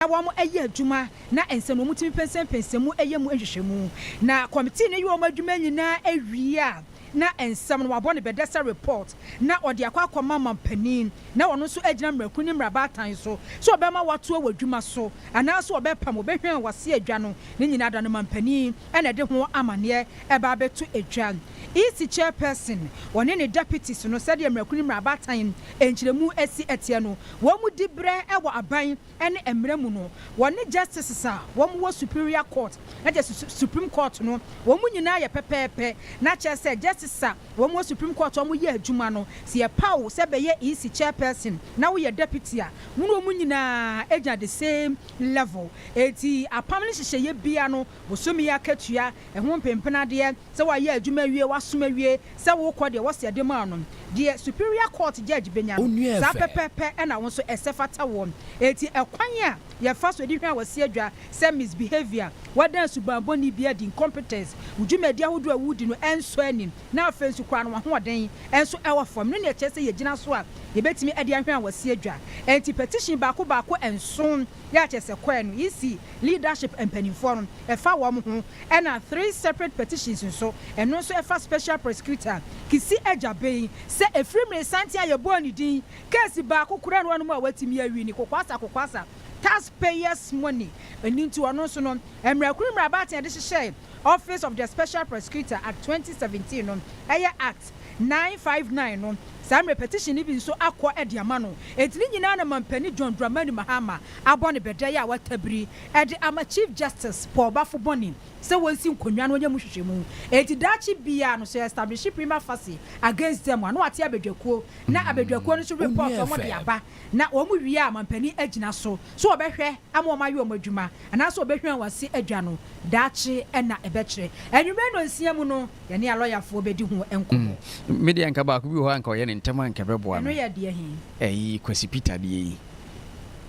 na wɔayɛ adwuma na ɛnsɛ no wɔtumi pɛnsɛmpɛnsɛm mu yɛ mu nhwehwɛmu na kɔmitii no yɛ wɔn adwuma nyinaa awie a, na nsɛm no wɔabɔ no bɛdɛ sɛ report na wɔde akɔ akɔma manpanin na ɔno nso agyina mmarakuru ne mmarabaatan so sɛ ɔbɛma wɔatoa wɔ adwuma so anaasɛ ɔbɛpam ɔbɛhwɛn wɔase adwa no ne nyinaa da no manpanin na ɛde ho amanneɛ ɛba abɛto adwa EC chairperson ɔne ne deputies no sɛdeɛ mmarakuru ne mmarabaatan nkyerɛmu si teɛ no wɔn mu diberɛ wɔ aban ne mmara mu no, wɔne justices a wɔwɔ Superior Court, ɛnna kyerɛ Supreme Court no, wɔn nyinaa yɛ pɛpɛɛpɛ. Na kyerɛ sɛ justices a wɔwɔ Supreme Court a wɔyɛ adwuma no, sɛ yɛpaw wo sɛ bɛyɛ EC chairperson na woyɛ deputy a, wo ne wɔn nyinaa gyina the same level. Enti apam no nhyehyɛeɛ biara no, bosome akatua, ɛho mpempenadeɛ, sɛ wayɛ adwuma awie, wasom awie, sɛ wokɔ deɛ wɔse ɛde maa no, deɛ superior court judge bɛnya no, saa pɛpɛpɛ na wo nso ɛsɛ fata woɔ. Enti ɛkwan a yɛfa so de hwɛ a wasi adwa sɛ misbehavior, woada suban bɔne bi adi, incompetence, wo dwumadi ahodoɔ a wodi no ɛnsɔ ani, na afei nso koraa no w'ahoɔden nso ɛwɔ fam no na ɛkyerɛ sɛ yɛgyina so a yɛbɛtumi de ahwɛ a wasi adwa. Enti petition baako baako nson yɛ akyɛsɛkɔɛ no, EC, leadership mpaninfoɔ no ɛfa wɔn ho ɛna three separate petitions nso ɛno nso ɛfa special prosecutor Kissi Agyabeng sɛ ɛfiri mmeresanten a yɛbɔɔ ne din case baako koraa nni hɔ nom a watumi awi ne kokwasa kokwasa tax payers money ɛno nti ɔno nso no mmara kunu mmarabaten a yɛde hyehyɛɛ office of the special prosecutor at twenty seventeen no ɛyɛ act Nine five nine no, saa mmerɛ petition no bi nso akɔ de ama no. Enti ne nyinaa na Mampanin John Dramani Mahama abɔ ne bɛdɛɛ a watabiri de ama Chief Justice Paul Bafo Boni sɛ wɔnsi nkonnwa no wɔnyɛ mu nhwehwɛmu. Enti daakye biara no, sɛ establish prima facie against them a, na wɔate abadwakuo na abadwakuo no nso report wɔn de aba. na wɔn wie a mampanin agyina so sɛ wɔbɛhwɛ ama wɔn ayɛ wɔn adwuma anaasɛ wɔbɛhwian wɔn ase adwa no daakye na ɛbɛkyerɛ. Anwummerɛ nnɔnsia mu no yɛne alɔyafoɔ bɛdi ho nkɔmmɔ. Mm, me deɛ anka baako bi wɔ hɔ a anka ɔyɛ ne ntɛm a anka ɛbɛboa me. Ɛno yɛ deɛ he? Ɛyi Kwasi Peter deɛ yi.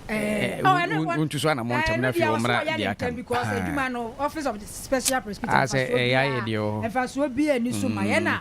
Eh, oh, ɛno ɛwɔ. Wontu so anamɔ ntɛm na afei wɔmmra deɛ aka no. Because adwuma no, Office of Special Prosecutor, ah, mfasoɔ biara, mfasoɔ biara ni so ma yɛn na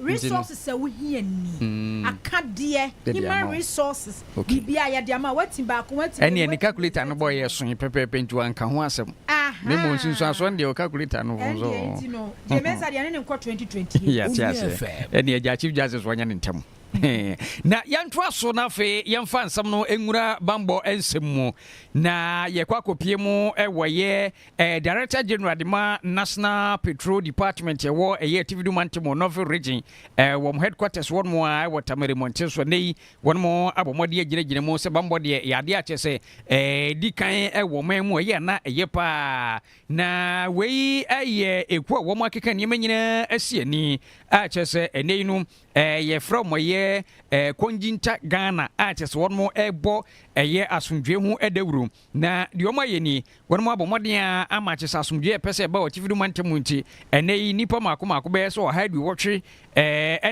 Resources a wohia ni, akadeɛ, human resources, biribi a yɛde ama, woati baako, woati mmienu, ɛneɛ ne calculator no bɔɔ yɛ soe pɛpɛɛpɛ nti wanka ho asɛm, na mmom nsunsuansoɔ no deɛ calculator no ho nso. Ɛndeɛ nti no, Jay Mensah deɛ ɛne ne nkɔ 2020. Yɛate aseɛ, ɛneɛ agya Chief Justice wɔnyɛ ne ntɛm. na yɛntoa so na afei yɛmfa nsɛm no nwura bambɔ nsɛm mu na yɛkɔ akɔpie mu wɔ yɛ Ɛyɛ Director General de ma National Patrol Department a ɛwɔ ɛyɛ Atifi Du Mantam wɔ Norville Region, ɛɛ, wɔn headquarters hɔ nom ara wɔ Tamale Mmɔnten so. Ɛnnɛ yi, wɔnom abɔ mmɔden agyinagyina mu sɛ bammɔ deɛ ɛyɛ adeɛ a kyerɛ sɛ, ɛɛ, ɛdi kan wɔ ɔman mu a ɛyɛ a na ɛyɛ pa ara. Na wei yɛ ekuo a wɔakeka nneɛma nyinaa asi ani a kyerɛ sɛ ɛnnɛ yi no, ɛɛ, yɛfrɛ wɔn ɛyɛ, ɛɛ, Kongyinta Ghana a kyerɛ sɛ wɔnom rebɔ ɛyɛ asomdwoeɛ ho dawuro. Na deɛ wɔayɛ nie, wɔabɔ mmɔden ara ama akyesa asomdwoeɛ a ɛpɛ sɛ ɛba wɔ atifi no mantam mu nti, ɛnnɛ yi nnipa mmaako mmaako bɛyɛ sɛ ɔha aduowɔtwe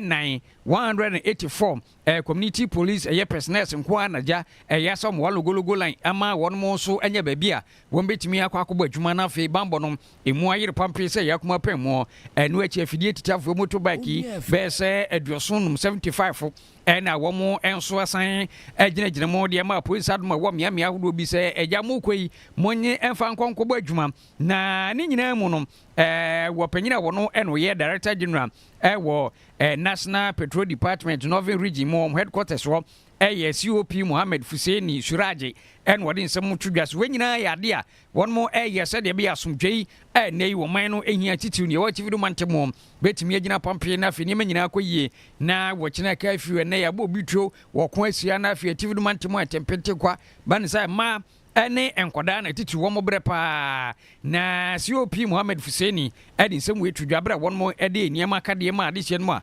nnan, 184, Community Police, ɛyɛ personnels, nko ara na gya Eyassa Omoa Logologo Line ama wɔn nso anya baabi a wɔbɛtumi akɔ akɔbɔ adwuma na afei bammɔ no ɛmu ayere pampee sɛ ɛyɛ akumaa pɛn mu. Ɛno akyi afidie titiafoɔ, motorbike, bɛyɛ sɛ aduɔson nnum, 75, Ɛna wɔn nso asan agyinagyina mu deɛ ma apuei nsadom a ɛwɔ mmeammea ahodoɔ bi sɛ, Agya, mokɔ yi, monnye mfa nkɔ nkɔbɔ adwuma. Na ne nyinaa mu no, wɔ panyin a ɔno na ɔyɛ Director General wɔ National Petrol Department Northern Region mu, wɔn headquarters hɔ yɛ COP Mohammed Fuseini Suraje na ɔde nsɛm to dwa. So wei nyinaa yɛ adeɛ a Wɔreyɛ sɛdeɛ ɛbɛyɛ a asomdwoeɛ a ɛnnɛ yi wɔ ɔman no hia titiriw no, yɛwɔ akyiri do mante mu, bɛtumi agyina pampee na afei nneɛma nyinaa akɔ yie na wɔkyena aka afiri hɔ. Ɛnnɛ yɛabɔ obi tuo wɔ ɔko asia na afei atifi do mante mu a ɛtempente kwa ba ne sɛ mma ne nkwadaa na titiriw wɔn brɛ pa ara na COP Mohammed Fuseni de nsɛm wei to dwa bere a wɔde nneɛma akadeɛ maa adehyeɛ no mu a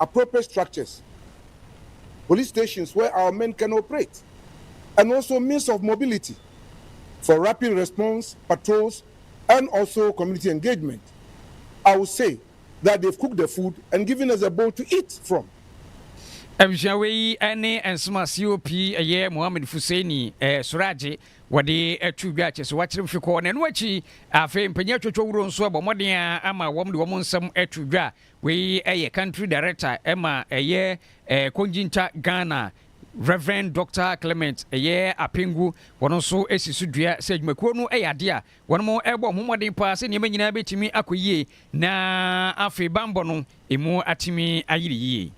appropriate structures, police stations where our men can operate and also means of mobility for rapid response patrols and also community engagement. I will say that they've cooked the food and given us a bowl to eat from. Abusua wei ne Nsema COP ɛyɛ Mohammed Fuseini eh, Suraje wɔde ato dwa kyɛ sɛ wɔakyerɛ mfe kɔɔ na ɛno akyi afei mpanyin atwatwa wuro nso abɔ mmɔden a ama wɔn de wɔn nsɛm ato dwa Wei yɛ country director ma ɛyɛ Kongyinta Ghana Rev Doctor Clement Ɛyɛɛ Apengu, wɔn nso si so dua sɛ adwumakuo no yɛ adeɛ a wɔn rebɔ wɔn ho mmɔden paa sɛ nneɛma nyinaa bɛtumi akɔ yie na afei banbɔ no ɛmu atumi ayere yie.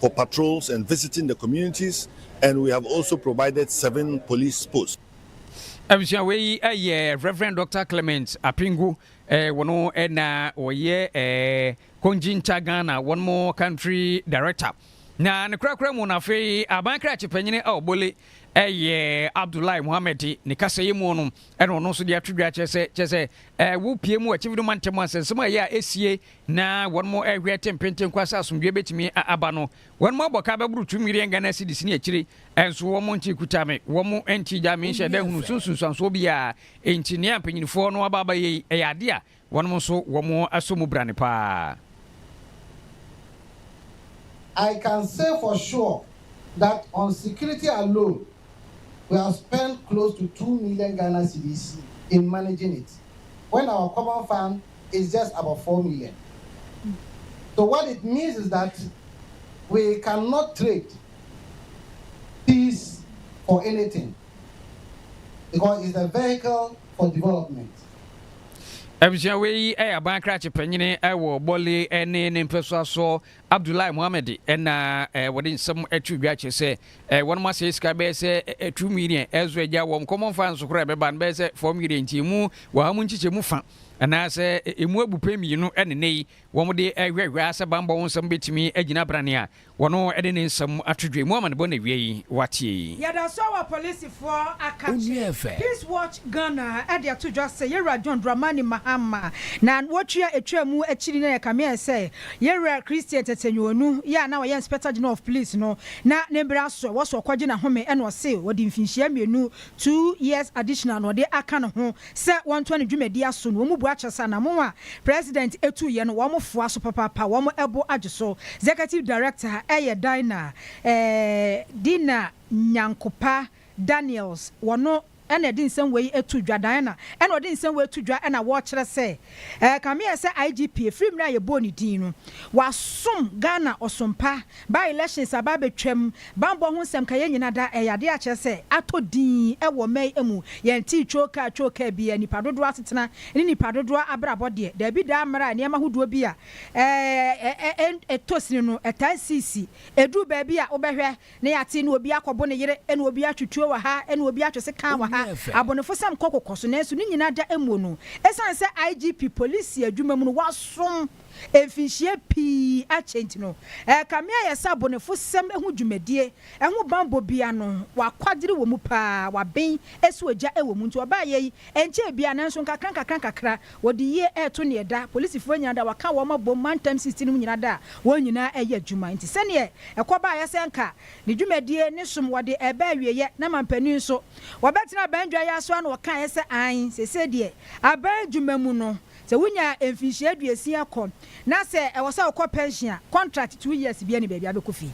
for patrols and visiting the communities and we have also provided seven police posts. Abusua wei yi eh, yɛ Reverend Dr. Clement Apingu eh, wɔn eh, na wɔyɛ eh, Konjinta Ghana wɔn mo country director na ne korakora mu no afei aban krakye panyini a ɔbɔle ɛyɛ abdullahi muhammed ne kasɛyɛ mu no ɛna ɔno nso de ato dwa kyerɛ sɛ kyerɛ sɛ ɛwo pie mu akyimfo no ma ntɛm asɛnsɛm a ɛyɛ a ɛsie na wɔrehwɛ te mpenten kwa sɛ asomdwoeɛ bɛtumi aba no, wɔabɔ ka bɛboro two million Ghana cedis ne akyire nso wɔnte kuta me, wɔnte gya me nhyɛ da nhunu so nsunsuansoɔ biara. Enti nea mpanyinfoɔ no aba abɛyɛ yi, ɛyɛ adeɛ a wɔnom nso wɔasɔ mu brane paa. I can say for sure that on security alone we have spent close to two million Ghana cedis in managing it when our common fund is just about four million so what it means is that we cannot trade peace for anything because it's a vehicle for development. Abusua wei yɛ aban krakye panyin wɔ Bɔle ne ne mpɛsoa soɔ Abdullahi Mohammed na wɔde nsɛm to dwa kyerɛ sɛ wɔnom asɛe sika bɛyɛ sɛ two million ɛso agya wɔn kɔmmɔ mfa nso koraa ɛbɛba no bɛyɛ sɛ four million nti emu wɔ ha mu nkyekyɛ mu fa anaasɛ emu abu pɛ mmienu ɛne nnɛ yi wɔn de ɛhwɛhwɛ ara sɛ bambɔ ho nsɛm bɛtumi agyina brane a wɔno ɛde ne nsɛm ato dwa mu amanebɔ na awia yi wateɛ yi. Yɛda so wɔ apolisifoɔ akakye. Peace Watch Ghana de ato dwa sɛ Yɛwura John Dramani Mahama na wɔtua atwaa mu akyiri na yɛkame ayɛ sɛ Yɛn wura Christian Tsetsenyuonu yi a na ɔyɛ Inspector General of Police no, na ne mber aso a wɔso ɔkɔgye n'ahome na ɔse wɔde mfinhyia mmienu, two years additional, na ɔde aka no ho sɛ wɔntoa ne dwumadie aso na wɔmubua kyɛ sɛ anamon a President etuiɛ no wɔfoa so papaapa, wɔn bo agye so. Executive Director yɛ Dinah eh, Dinah Nyankopa. Daniels wɔ no na ɛde nsɛm wei to dwa. Diana na ɔde nsɛm wei to dwa na wɔkyerɛ sɛ, Kame yɛ sɛ IGP a, firi mmerɛ a yɛbɔɔ ne din no, wasom Ghana ɔsom pa. By elections aba abɛtwam, bammɔ ho nsɛm ka yɛn nyina da, ɛyɛ adeɛ a kyerɛ sɛ atɔ din wɔ mmɛn mu. Yɛntee twookaa twookaa biara, nnipa dodoɔ asetena ne nnipa dodoɔ abrabɔ deɛ, daabi daa mmerɛ a nneɛma ahodoɔ bi a ɛtɔ sini no ɛtaa sisi. Ɛduru baabi a wobɛhwɛ Ne yɛate ne obi akɔbo ne yere ne obi atwe tuo wɔ ha ne obi atwe sekan wɔ ha. Abonefosɛm kɔ kokɔ so nanso ne nyinaa da mmuo no ɛsiane sɛ IGP polisi adwuma mu no wasom mfinhyia pii akyɛ nti no. Ɛrekame ayɛ sɛ abonefosɛm ho dwumadie ɛho banbɔ bi ano wakwadere wɔ mu paa, waben ɛso agya wɔ mu nti wɔbaeɛ yi ɛnkyɛɛ biara nanso nkakra nkakra nkakra. Wɔde yie reto neɛ da polisifoɔ nyinaa da wɔaka wɔn abom mantam sixteen nom nyinaa da a wɔn nyinaa reyɛ adwuma nti sɛdeɛ ɛkɔ baeɛ sɛ nka ne dwumadie ne som wɔde reba awieɛ na mampanin nso wɔbɛtena aban dwa yi ara so a na wɔkaeɛ sɛ aane seesei deɛ aban adwuma mu no sɛ wonya mfinhyia aduosia kɔ na sɛ ɛwɔ sɛ wokɔ pɛnhyen a kɔntrakt two years biara nni baabi a wobɛkɔ fie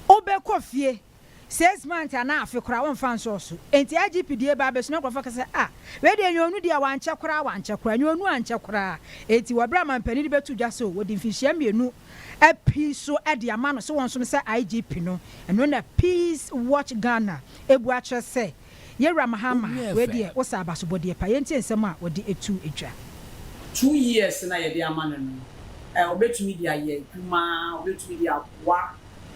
wobɛkɔ fie Six months anaa afe koraa wɔmfa nsɔɔ so. Enti IGP die baa bɛsu na nkurɔfoɔ ka sɛ ah wei deɛ ɛnyɛ onu deɛ a wankyɛ koraa wankyɛ koraa ɛnyɛ onu ankyɛ koraa enti wɔ berɛ a manpanin de bɛto dwa sɛ wɔde mfinhyia mmienu api so de ama no sɛ wɔnsom sɛ IGP no ɛno na Peace Watch Ghana abu akyerɛ sɛ Yewura Mahama, wei deɛ wo sɛ abasobɔdeɛ paa. Yɛntie nsɛm a ɔde tu dwa. Two years na yɛde ama no no, ɔbɛtumi de ayɛ adwuma, ɔbɛtumi de aboa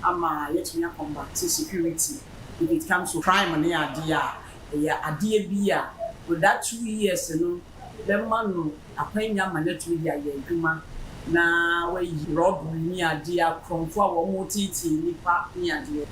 ama yɛatumi a conduct security if it comes to crime ne adeɛ a, ɛyɛ adeɛ bi a for that two years no bɛma no akwanya ama no atumi de ayɛ adwuma na wayi rɔbere ne adeɛ, akorɔmfo a wɔteetee nnipa ne adeɛ.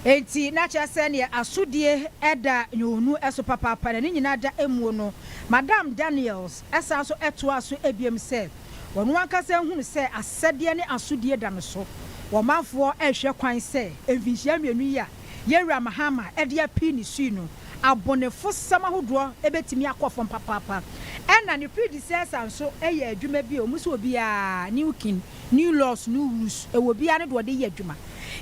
Enti na kyerɛ sɛ neɛ asodie da Yoonu so papaapa na ne nyinaa da mmuo no. Madame Daniels san nso toaa so biom sɛ, Ɔno ankasa hunu sɛ asɛdeɛ ne asodie da no so. Ɔmanfoɔ rehwɛ kwan sɛ mfinhyia mmienu yi a Yɛn Wura Mahama de apii ne sui no, abonefosɛm ahodoɔ bɛtumi akɔ fam papaapa. Ɛna ne predecessor nso yɛɛ adwuma bi a wɔn nso obiara, new king, new laws, new rules, ɛwɔ obiara ne deɛ ɔde yɛ adwuma.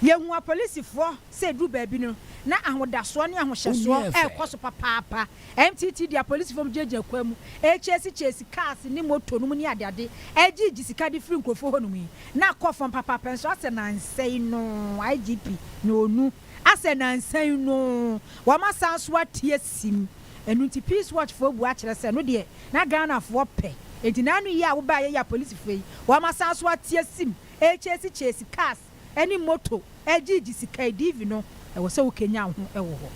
Yɛhu apolisifoɔ sɛ ɛduru baabi no, na ahodasoɔ ne ahohyɛsoɔ rekɔ so papaapa. MTT de apolisifo nom gyinagyina kwan mu rekyɛɛse kyɛɛse cars ne motor nom ne adeade regye gye sika de firi nkurɔfoɔ hɔ nom yi na akɔ fam papaapa nso asɛ nansa yi noo IGP na ɔnu asɛ nansa yi noo wɔn asan nso ateɛ sim ɛno nti peace watch foɔ bua kyerɛ sɛ ɛno deɛ na Ghana foɔ pɛ ɛnti na ano yi a wo baeɛ yi apolisifo yi wɔn asan nso ateɛ sim rekyɛɛse kyɛɛse cars ne moto gyigye sika yi, DV no, ɛwɔ sɛ wokanyan ho wɔ hɔ.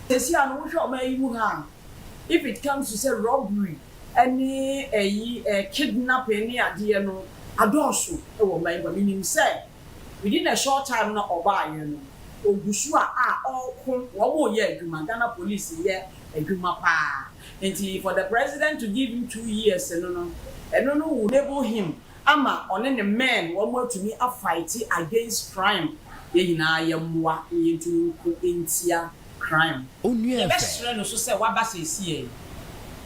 Sɛsi a no wohwɛ ɔman yi mu ha a, if it comes to sɛ robbery ne ɛyi eh kidnapping ne adeɛ no adɔɔso wɔ ɔman yi mu a, menim sɛ within the short time no a ɔbaeɛ no, ɔguso a a ɔɔko, wɔɔyɛ adwuma, Ghana police reyɛ adwuma paa, nti for the president to give him two years no no, ɛno no will enable him ama ɔne ne men wɔn atumi a fight against crime yɛn nyinaa yɛ mmoa na yɛn tumi nko ntia crime. Yɛ bɛ srɛ no nso sɛ waba seeseɛ yi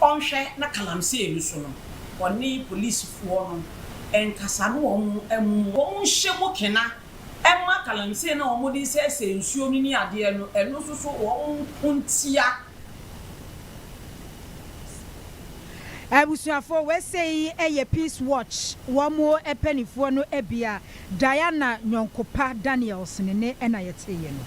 ɔnhwɛ na kalamsey no so no ɔne police foɔ no nkasa na wɔn mmu wɔn nhyɛ mu kena mma kalamsey no a wɔn de sɛɛsɛɛ nsuo no ne adeɛ no ɛno nso so wɔn nko ntia Abusuafoɔ, wei sei yɛ Peace Watch wɔn panifoɔ no bia Diana Nyɔnkopa Daniels ne nne na yɛteeɛ no.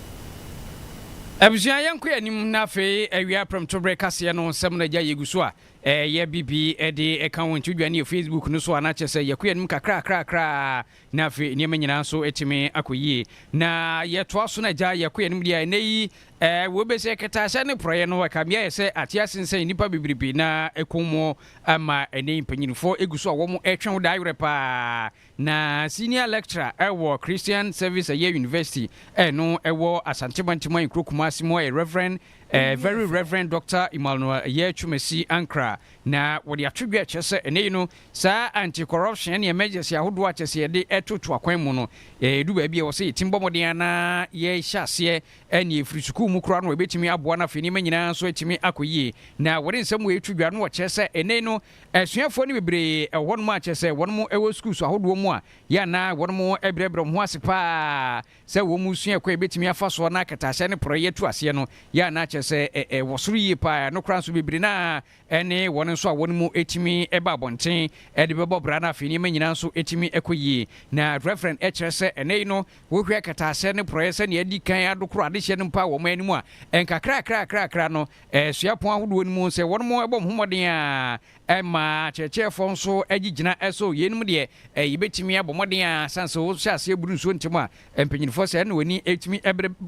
Abusua yɛn kɔ yɛn anim na afei awia prɛmto berɛ kaseɛ no nsɛm na agya yɛgu so a yɛ bibi de ka wɔn nti wodwane yɛ Facebook no so a na kyerɛ sɛ yɛkɔ yɛn anim kakrakrakra Na afei nneɛma nyinaa nso atumi akɔ yie. Na yɛtoa so na agya yɛkɔ yɛn anim deɛ a, ɛnnɛ yi eh, wobɛsi akatahyɛ ne porɔeɛ no, ɛka mmea yɛ sɛ ate asensɛn nnipa bebrebe na ɛkɔn mu ama ɛnnɛ yi mpanyinfoɔ gu so a wɔretwɛn wo daa werɛ paa. Na Senior Lecturer ɛwɔ Christian Service ɛyɛ University ɛno ɛwɔ Asante Mantamu Nkuro Kumasi mu ɛyɛ Rev. Eh, Very Rev. Doctor Emmanuel ɛyɛ Twumasi Ankrah. Na wɔde ato dwa ɛkyerɛ sɛ ɛnnɛ yi no Saa anti-corruption ne emergency ahodoɔ a kyerɛ sɛ yɛde ɛtoto akwan mu no, ɛdu baabi a ɛwɔ sɛ yɛtim bɔ mmɔden ara na yɛhyɛ aseɛ ɛnneɛ ɛfiri sukuu mu koraa no ɛbɛtumi aboa no afei nneɛma nyinaa nso atumi akɔ yie. Na wɔde nsɛm wei to dwa no wɔkyerɛ sɛ ɛnnɛ yi no asuafoɔ no bebree wɔ hɔnom a kyerɛ sɛ wɔnom wɔ sukuus ahodoɔ mu a yɛ a na wɔnom brɛbrɛ wɔn ho ase pa ara sɛ wɔn resua ɛkwan a ɛbɛtumi afa soɔ na akatahyɛ ne porɔeɛ atu aseɛ no yɛ a na kyerɛ sɛ ɛwɔ soro yie pa ara ɛno koraa nso bebree no ara ɛne wɔn nso a wɔn mu tumi ba abɔnten de bɛbɔ bra na afei nneɛma nyinaa nso tumi kɔ yie. Na Rev. kyerɛ sɛ ɛnnɛyi no wohwɛ akataasɛ ne porɔeɛ sɛdeɛ adi kan adokoro adehyeɛ no mpo a wɔn anim a,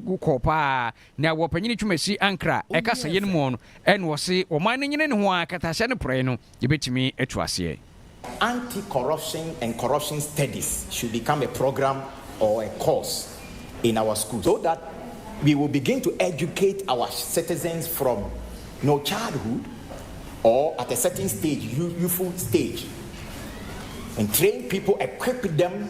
nkakrakrakraKa Na wɔ panyin twumasi ankra a ɛka sɛ yɛn mu no, ɛna ɔse ɔman no nyene ne ho ara katahyɛ no porɔe no, yɛbɛtumi atu aseɛ. Anti corruption and corruption studies should become a program or a course in our school so that we will begin to educate our citizens from no childhood or at a certain stage youthful stage and train people equip them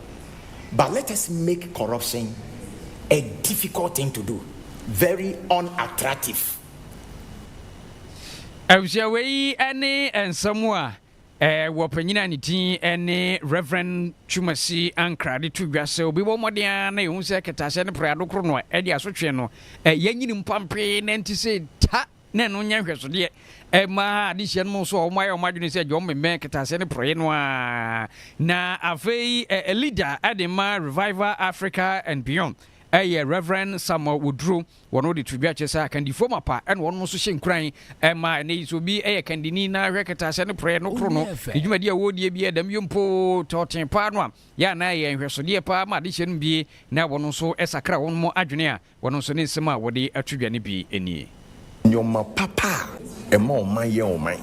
but let us make corruption a difficult thing to do, very unattractive. Abusua wei ne nsɛm a wɔ panyin a ne din ne Rev. Twumasi Ankrah de to dwa sɛ obi bɔ mmɔden ara na ehu sɛ kɛtɛaseɛ ne prɛado koro no a ɛde asotwe no yɛnyini mpampee na nti sɛ ta na ɛno nyɛ nhwɛsodeɛ ɛma adehyeɛ no mu nso a wɔayɛ wɔn adwene sɛ John Mmemmɛn kɛtɛaseɛ no porɔeɛ no ara na afei ɛ leader ɛde ma Revival Africa and Beyond ɛyɛ Reverend Samuel Woduro wɔn wɔde to dwa kyɛ sɛ akandifoɔ mapa ɛna wɔn nso hyɛ nkuran ɛma ɛnɛ yi sɛ obi ɛyɛ kandini na ahwɛ kɛtɛaseɛ no porɔeɛ no koro no ne dwumadi a wɔredie bi ɛdɛm yɛ mpo tɔɔten paa no a yɛ anaa ɛyɛ nhwɛsodeɛ paa ma adehyeɛ no bie na wɔn nso ɛsakra wɔn adwene a Wɔn nso ne nsɛm a wɔde ato dwa no bi nie. Nneɛma papa a ɛma ɔman yɛ ɔman,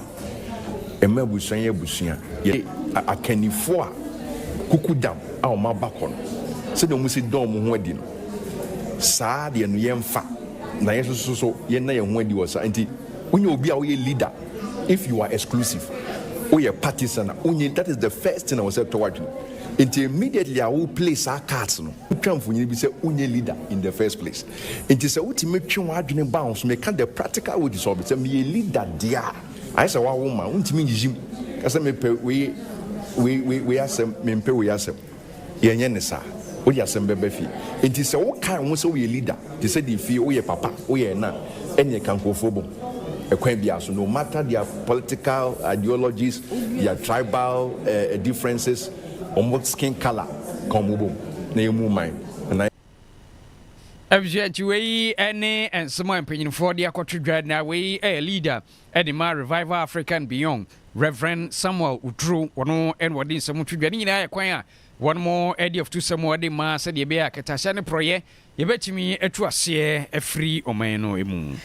ɛma abusua yɛ abusua, yɛ akannifoɔ a kukudam a wɔn aba kɔ no, sɛdeɛ wɔsi da wɔn ho adi no, saa deɛ no yɛmfa na yɛn nso so yɛnna yɛn ho adi wɔ saa nti wonyɛ obi a woyɛ leader if you are exclusive, woyɛ partisan a wonyɛ, that is the first thing a ɛwɔ sɛ ɛtɔ w'adwene nti immediately a wo play saa cards no. twa mfonini bi sɛ wonyɛ leader in the first place. Nti sɛ wotumi twe w'adwene ba ho so, meka the practical wages of it, sɛ meyɛ leader deɛ a, ayɛ sɛ woawo ma, wontumi nyiyim ka sɛ mepɛ wei, wei, wei, wei asɛm, mempɛ wei asɛm. Yɛnyɛ ne saa. Wode asɛm bɛba fie. Nti sɛ wokae wo ho sɛ woyɛ leader, te sɛ deɛ fie, woyɛ papa, woyɛ ɛna a, ɛneɛ ka nkurɔfoɔ bom ɛkwan biara so, no matter their political ideologies, their tribal eh, eh, differences, wɔn skin colour ka wɔn bom na yɛ mu man na. Abusua nti wei ne nsɛm a mpanyinfoɔ de akɔto dwa na wei yɛ leader de ma Revival Africa and Beyond Rev Samuel Uturo wɔn na wɔde nsɛm to dwa ne nyinaa yɛ kwan a wɔn de afutusɛm wɔde ma sɛdeɛ ɛbɛyɛ a kɛtɛaseɛ ne porɔyɛ Yɛbɛtumi atu aseɛ afiri ɔman no mu.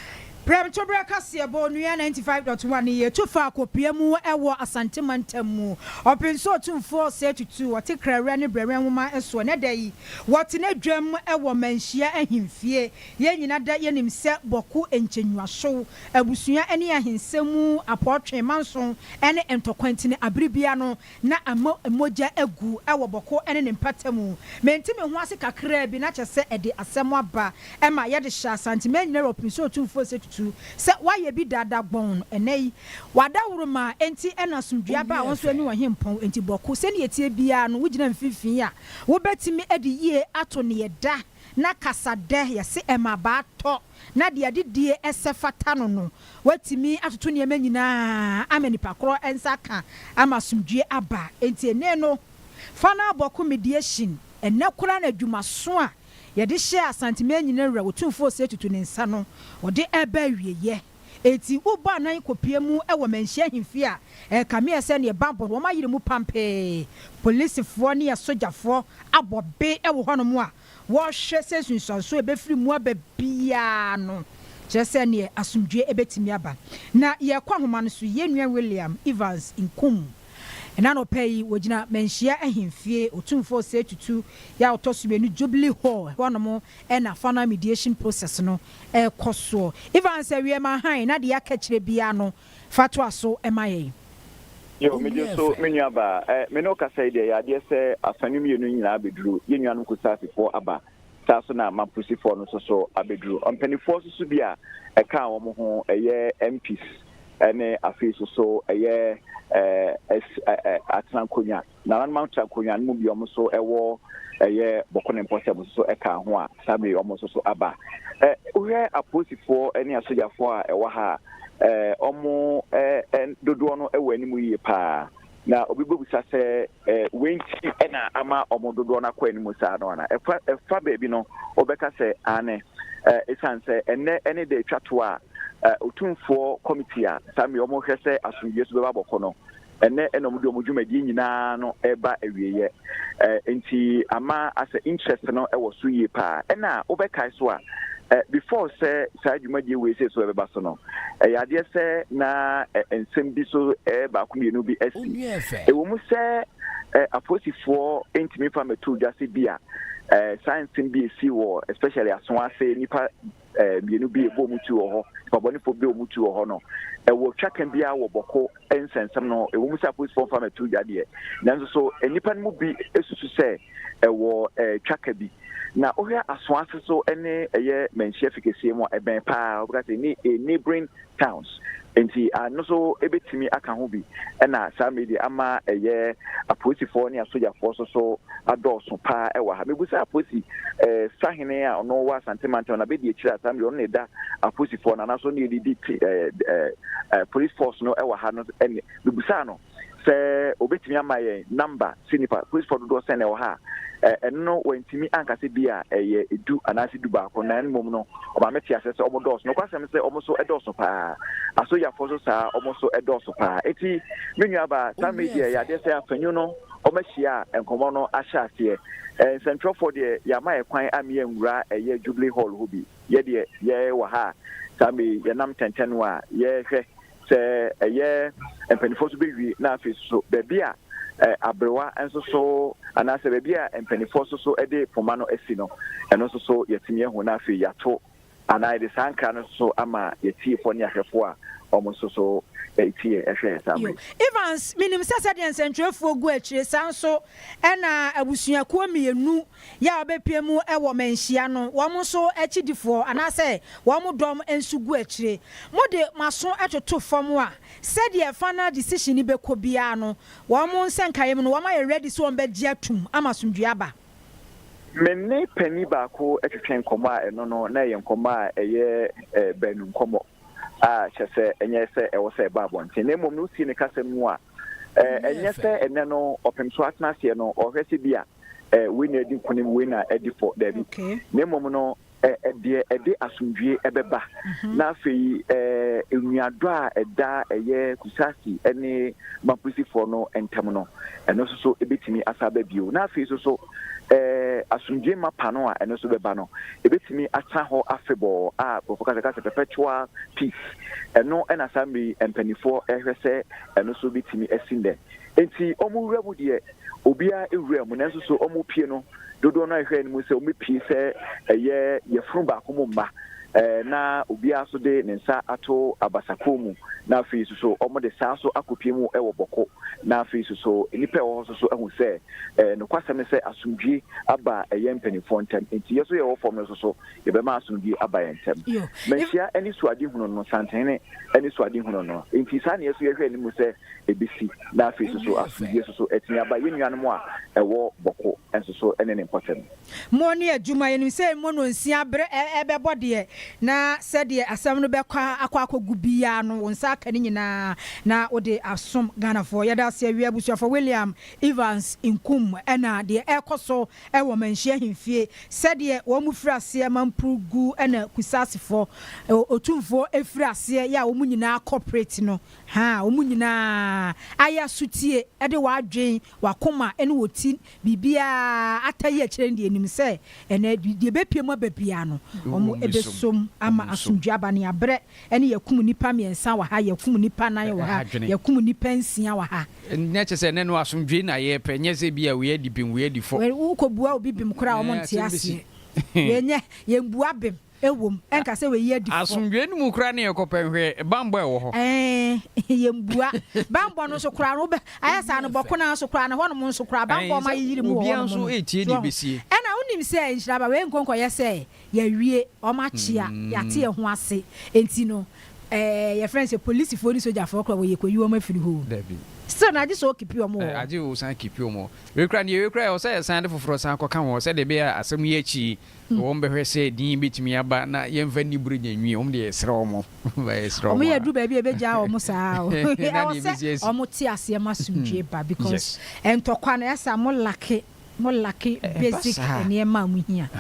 Prɛmtoberɛ Kaseɛbɔ Onua 95.1 Yɛ tu fa Akopia mu wɔ Asante Mantam mu Ɔpenso Otumfoɔ Sɛ tutu wɔte Krɛwrɛ ne Brɛwɛn Nwoma so Ɛnɛ da yi wɔtena dwam wɔ Manhyia Ahemfie Yɛn nyina da yɛnim sɛ Bɔko Nkyɛnwuasow Abusua ne Ahensɛm mu Apɔɔtwe Manson ne Ntɔkwantini Abere biara no na ama mogya agu wɔ bɔkɔ ne ne mpata mu. Mente me ho ase kakraa bi, na kyerɛ sɛ ɛde asɛm aba, ɛma yɛde hyɛ Asantema nyinaa wura Opinsɛ Otumfoɔ nsɛ tutu sɛ wayɛ bi dada gbɔnn. Ɛnnɛ yi, wadaworo ma enti na asomdwoeɛ aba a wo nso ɛne Ɔhempɔn. Enti Bɔko, sɛdeɛ ɛteɛ biara no, wogyina mfimfini a wobɛtumi de yie ato nea ɛda. na kasa dɛ, yɛse mmabaa tɔ, na deɛ adidie sɛ fata no no, watumi atoto nneɛma nyinaa ama nipa korɔ nsa aka ama asomdwie aba. Enti ene no, fa no abɔ ko mediation. Ennɛ koraa na adwumaso a yɛde hyɛɛ Asante Manyina Wura Otumfoɔ Osei Tutu ne nsa no, wɔde reba awieyɛ. Enti wo bɔ anan kɔpue mu wɔ manhyia ahemfie a ɛrekame ɛ sɛdeɛ bɛabɔ wɔn ayere mu pampee. Policefoɔ ne asogyafoɔ abɔ be wɔ hɔnom a wɔrehwɛ sɛ nsunsuansoɔ a ɛbɛfiri mu aba biara no kyerɛ sɛ neɛ asomdwoeɛ bɛtumi aba. Na yɛrekɔ ahoma no so, yɛn nua William Evans Nkum. Ɛna anɔpa yi wɔgyina manhyia ahemfie, Otumfoɔ Osei Tutu, yɛ a ɔtɔ so mmienu, Jubilee Hall hɔnom Ɛna final mediation process no ɛkɔ soɔ. Evans awiɛ ma hann na deɛ aka akyire biara no fa toa so ma yɛn. Yo, megye nso me nua baa. Eh, me ne wo kasa yi deɛ ɛyɛ adeɛ sɛ afa no mmienu no nyinaa bɛduru. Yɛn nuanom Kusaasifoɔ aba, saa nso na Mampusifoɔ no nso so abɛduru. Ɔmpanifoɔ nso so bi a ɛkaa wɔn ho, ɛyɛ MPs ne afei nso so ɛyɛ eh, eh, eh, Atenankonnwa. nananom atra nkonnwa no mu bi a wɔn nso wɔ ɛyɛ bɔkɔ ne mpɔsɛ wɔn nso ka ho a saa bere wɔn nso so aba. Ɛ wohwɛ apolisifoɔ ne asogyafoɔ a ɛwɔ ha a, ɛ wɔn dodoɔ no wɔ anim yie paa. Na obi bɛbisa sɛ ɛ wei nti na ama wɔn dodoɔ no akɔ anim saa no ana? Ɛfa ɛfa baabi no wɔbɛka sɛ aane. Ɛ ɛsiane sɛ ɛnnɛ ɛne da ɛtwa toɔ a, ɛ otumfoɔ kɔmiti a saa bere wɔhwɛ sɛ asomdwoeɛ so bɛba bɔkɔ no ɛnnɛ na wɔde wɔn dwumadie nyinaa no reba awieeɛ. Eh, nti ama asɛ interest no wɔ so yie paa. Ɛna wobɛkae so a, eh, before sɛ saa dwumadie wei sei so ɛbɛba so no, ɛyɛ adeɛ sɛ na eh, nsɛm bi so eh, baako mmienu bi asi. Ɛwɔ mu sɛ eh, apolisifoɔ ntumi fa mɛtoo dwa sɛ bi a eh, saa nsɛm bi ɛsi wɔ especially aso ase nnipa eh, mmienu bi ɛbɔ mu ti wɔ hɔ pabɔnefoɔ bɛ mu ti wɔ hɔ no ɛwɔ twaka biara wɔ bɔko nsɛnsɛm no ɛwɔ mu sɛ apolisifoɔ mfa mɛto dwa deɛ nanso so nnipa no mu bi susu sɛ ɛwɔ eh, twaka bi na wohwɛ aso ase so ne ɛyɛ manhyia fi kɛseɛ mu a ɛbɛn paa wobɛka sɛ ne neighboring towns, enti ɛno nso bɛtumi aka ho bi na saa mmerɛ yi deɛ ama ɛyɛ apolisifoɔ ne asogyafoɔ nso so adɔɔso pa ara wɔ ha. Mebisa apolisi eh, sahene a ɔno wɔ Asante mantam no abɛdi akyire a saa mmerɛ ɔno na ɛda apolisifoɔ no anaasɛ ɔno na ɛdidi eh, eh, eh, police force no wɔ ha no ɛne mebisaa no sɛ obetumi ama yɛn nɔmba sɛ nnipa Christfoɔ dodoɔ sɛn na ɛwɔ ha a, ɛno no wantumi anka sɛ bi a ɛyɛ du anaasɛ du baako, na mmom no ɔma me te aseɛ sɛ wɔn dɔɔso. Nokwasɛm ne sɛ wɔn nso dɔɔso paa. Asoyafoɔ nso saa ara, wɔn nso dɔɔso paa. Enti me nuabaa, saa mmere yi deɛ ɛyɛ adeɛ sɛ afanyu no wɔahyia a nkɔmmɔ no ahyɛ aseɛ. Nsɛntwerɛfoɔ deɛ yɛama yɛn kwan a me yɛnwura ɛyɛ Jubilee Hall hɔ bi. Yɛ deɛ yɛwɔ ha a, saa mmere yi yɛnam tɛntɛno a yɛrehwɛ sɛ ɛyɛ mpanimfoɔ so bɛwie na afei so baabi a aberewa nso so anaasɛ baabi a mpanimfoɔ nso so de poma no asi no ɛno nso so yɛatumi ahu na afei yɛato anaa yɛde saa nkra no so ama yɛtiefoɔ ne ahwɛfoɔ a wɔn nso so tie ɛhwɛ yɛ saa mmere. Evans, menim sɛ sɛdeɛ nsɛntwerɛfoɔ gu akyire saa nso ɛna abusuakuo mmienu Yɛ a wɔbɛpue mu wɔ mmanhyia no, wɔn nso akyidifoɔ anaasɛ wɔn dɔm nso gu akyire. Mode mo aso toto fam a, sɛdeɛ final decision no bɛkɔ biara no, wɔn nsa nkaeɛ mu no, wɔayɛ ready sɛ wɔbɛgye atom ama asomdwoeɛ aba. Me ne panin baako twetwee nkɔmmɔ a ɛno no, na ɛyɛ nkɔmmɔ a ɛyɛ baanu nkɔmmɔ a kyerɛ sɛ ɛnyɛ sɛ ɛwɔ sɛ ɛba abɔnten, na mmom no, wotie ne kasam mu a, ɛnyɛ sɛ ɛnnɛ no ɔpem so atenaseɛ no, ɔhwɛ sɛ bi a, eh, wei na ɛdi nkonim wei na ɛdi fɔ daabi okay. na mmom no eh, eh, deɛ ɛde asomdwie ɛbɛba mm -hmm. na afei eh, nnuadɔ a ɛda ɛyɛ kusasi ne mapusifoɔ no ntam no ɛno nso so ɛbɛtumi asa aba bio na afei nso so eh, asomdwie mapa no a ɛno nso bɛba no ɛbɛtumi asa hɔ afebɔɔ a nkurɔfoɔ kasɛ kasɛ perpetual peace ɛno ɛna saa mmiri mpanimfoɔ ɛhwɛ sɛ ɛno nso bɛtumi asi nnɛ Enti wɔn wura mu deɛ, obiara wura mu, nanso so wɔpue no? Dodoɔ no ara a yɛhwɛɛ no mu sɛ wɔbɛpue sɛ ɛyɛ yafunu baako mu mma, na obiara nso de ne nsa ato abasakoro mu, na afei nso so wɔde saa nso akɔpue mu wɔ Bɔko, na afei nso so nnipa a ɛwɔ hɔ nso so ahu sɛ nokwasɛm ne sɛ asomdwoe aba yɛn mpanimfoɔ ntam, enti yɛn nso yɛwɔ fam no nso so yɛbɛma asomdwoe aba yɛn ntam. Manhyia anisoadehunu no, Santene anisoadehunu no, enti saa na yɛn nso yɛhwɛɛ no mu sɛ, ebesi, na afei nso so asomdwoe nso so atumi aba yɛn nuanom a ɛwɔ Bɔko nso so ne ne mpɔtam. Mmɔ ne adwuma. Yɛnim sɛ mmɔ nnɔnsia bere ɛbɛbɔ deɛ, na sɛdeɛ asɛm no bɛkɔ akɔ akɔgu biara no, wo nsa aka ne nyinaa na wode asom Ghanafoɔ. Yɛda ase awie Abusuafoɔ William Evans Nkum na deɛ ɛrekɔ so wɔ Manhyia Ahemfie, sɛdeɛ wɔn firi aseɛ ma mpurugu na Kusaasefɔ, Otumfoɔ firi aseɛ yɛ a wɔn nyinaa cooperate no, Ha a wɔn nyinaa ayɛ asotie de wɔn adwene, wɔn akoma ne wɔn ti, biribiara, ata yi akyire no deɛ nim sɛ ɛnnɛ deɛ ɛbɛpue mu aba biara no wɔn bɛsom ama asomdwoeɛ aba no yɛabrɛ ne yɛakum nnipa mmiɛnsa wɔ ha, yɛakum nnipa nan wɔ ha, yɛakum nnipa nsia wɔ ha. Na kyerɛ sɛ ɛnnɛ no asomdwoeɛ na yɛrepɛ ɛnyɛ sɛ bi a wei adi bem wei adi fɔ. Wokɔbua obi bem koraa a wɔnte aseɛ, wei nyɛ yɛn bua bem. Ɛwom, ɛnka sɛ wɔayi adi fɔ. Asomdwoe no mu koraa na yɛkɔpɛ nhwɛ bammɔ a ɛwɔ hɔ. Ɛɛ, yɛmmua. Bammɔ no nso koraa no, wobɛ, ayɛ saa no, bɔko no ara nso koraa no, ɛhɔnom nso koraa, bammɔ a wɔma yeyere mu wɔ hɔnom no. So ho? Ɛnna wonim sɛ nhyira aba, wei nkɔnkɔyɛ sɛ yɛawie, wɔakyea, yɛate ɛho ase. Enti no, ɛɛ, yɛfrɛ no sɛ polisifoɔ ne sogyafoɔ koraa wɔ yɛkɔyi wɔn afiri hɔ o. Still no, agye sɛ wɔkeepi wɔn wɔ hɔ. Agye sɛ wɔsan keepi wɔn wɔ hɔ. Wei koraa no, deɛ wei koraa, ɛwɔ sɛ yɛsan de foforɔ san kɔka ho sɛdeɛ ɛbɛyɛ a asɛm yi akyi Wɔn bɛhwɛ sɛ din bɛtumi aba na yɛmfa nni borɔgya nwie, wɔn deɛ yɛsrɛ wɔn, wɔmfa yɛsrɛ wɔn a. Wɔn yɛ duru baabi a ɛbɛgyaa wɔn saa o, ɛwɔ sɛ wɔn te aseɛ ma asomdwie ba because ntɔkwa no ɛsa mo lacke, mo lacke basic nneɛma a mo hia,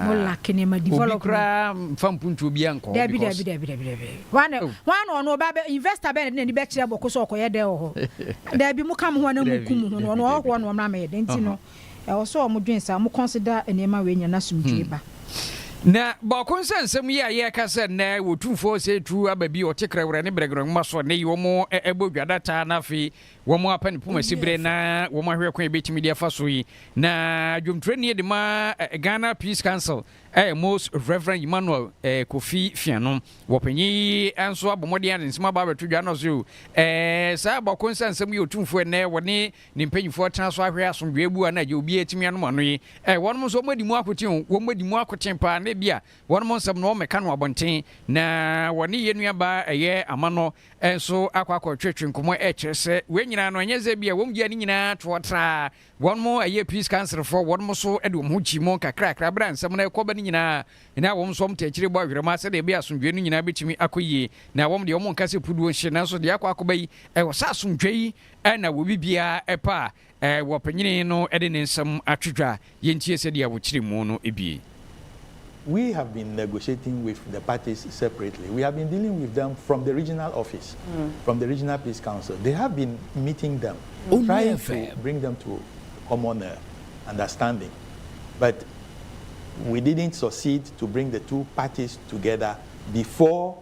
mo lacke nneɛma development. Obi koraa mfa mpuntuo biara nkɔ hɔ because. Dabi dabi dabi dabi dabi, wɔn ano wɔn ba bɛ investor bɛn na ɛde n'ani bɛkyerɛ bɔko sɛ ɔkɔyɛ dɛn wɔ hɔ, dabi mo ka mo ho a na mo ku mo ho no, wɔn ɔhɔhoɔ na wɔn ama yɛ dɛn nti no. Ɛwɔ sɛ wɔdwen saa, wɔconsider nneɛma wei nyinaa na asomdwoe ba. Na baako nsa nsɛm yi a yɛreka sɛ nnɛ wɔ Tumfoɔ Osei Tuo aba bi ɔte Krɛwrɛ ne Brɛgrɛ nwoma so a nnɛ yi wɔbɔ dwa da taa na afei wɔapa ne poma siberɛ na wɔahwɛ kwan a yɛbɛtumi de afa so yi na dwomturani de ma Ghana Peace Council ɛyɛ Most Rev. Emmanuel Kofi Fiano wɔpanyin yi nso abɔ mmɔden a ne nsɛm aba abɛto dwa no so saa baako nsa nsɛm yi ɔtumfoɔ nnɛ wɔne Ne mpanyimfoɔ tena so ahwɛ asomdwoeɛ bu a na agye obiara atumi anom ano yi. Ɛ, wɔnom nso wɔadi mu akoten o, wɔadi mu akoten paa na ebia wɔnom nsɛm no wɔmmɛka no abɔnten. Na wɔne yɛn nuabaa a ɛyɛ ama no nso akɔ akɔtwetwe nkɔmmɔ rekyerɛ sɛ wei nyinaa no ɛnyɛ sɛ ebia wɔgyaa ne nyinaa toɔ traa. Wɔnom ɛyɛ Peace Councilfoɔ, wɔnom nso de wɔn ho kyii mu nkakrakra berɛ a nsɛm no rekɔ aba no nyinaa. Na wɔn nso wɔtaa akyire bɔ awerɛmaa sɛdeɛ ɛbɛyɛ a asomdwoeɛ no nyinaa bɛtumi akɔ yie. Na wɔn deɛ wɔnka sɛ puduo nhye nanso deɛ akɔ akɔba yi, ɛwɔ sɛ asomdwoeɛ yi Ɛna wɔ biribiara pa a wɔ panyini no de ne nsam ato dwa yɛntie sɛdeɛ wɔ kyere mu no bie. We have been negotiating with the parties separately, we have been dealing with them from the regional office, from the regional peace council, they have been meeting them, trying to bring them to common understanding but we didn't succeed to bring the two parties together before.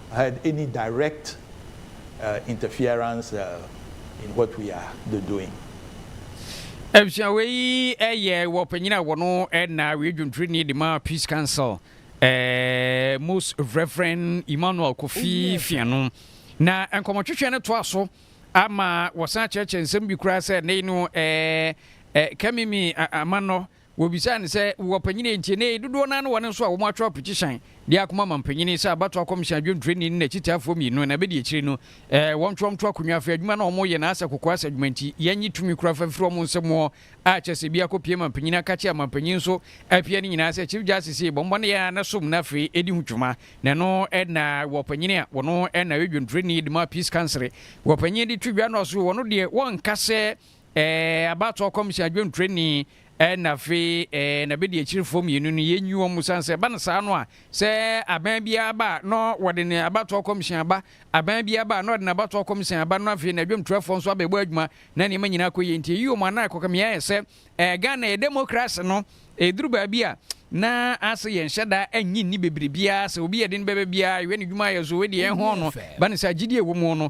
had any direct interference in what we are the doing. Abusua wei yi yɛ wɔ panyin a wɔn na wei dwontoroni de ma Peace Council eh, Most Reverend Emmanuel Kofi Fiano na nkɔmɔtwetwe no toa so ama wɔsan kyerɛkyerɛ nsɛm bi koraa sɛ ne no eh, eh, Kamimi Amanɔ Wɔbisaa no sɛ, Wowɔ panyin a enti ɛnnɛ yi dodoɔ no ara ne wɔn nso a wɔatwerɛ apetisyan de akɔma manpanyin yi sɛ abatoɔ akɔmhyɛ adwontoroni ne n'akyitaafoɔ mmienu na ɛbɛdi akyire no ɛɛ wɔntwerɛ nto akonnwa afei adwuma no a wɔreyɛ no asɛ kokoa asɛ adwuma nti yɛnnye tumi koraa fa mfiri wɔn nsam wɔ a kyerɛ sɛ bi akɔpie manpanyin aka kyɛ a manpanyin nso apia ne nyinaa sɛ Chief Justice ei bɔmmɔ no yɛ ara na som no afei ɛdi ho dwuma na ɛno na wɔ panyin a wɔno na ɛyɛ dwontoroni de ma peace council wɔ panyin de twi dwa no ɔso wɔno deɛ wɔnka sɛ Ɛɛ abatoɔ kɔmhyɛn adwentureni ɛna afei ɛɛ n'abɛdiakyirefoɔ mmienu no yɛnyi wɔn mu sane sɛ ɛba no saa no a sɛ aban biara ba a na wɔde ne abatoɔ kɔmhyɛn aba aban biara ba a na ɔde n'abatoɔ kɔmhyɛn aba na afei n'adwamturafoɔ nso abɛbɔ adwuma na nneɛma nyinaa akɔ yie nti ɛyi wɔn anan ɛkɔka me ayɛ sɛ ɛɛ Ghana yɛ demokrase no ɛduru baabi a na ase yɛn hyɛ da anyi nni bebree biara sɛ obi yɛ den bɛbɛ biara yɛ ne dwuma ayɛ so wei deɛ ɛho no ba no sɛ agyidie ɛwɔ mu no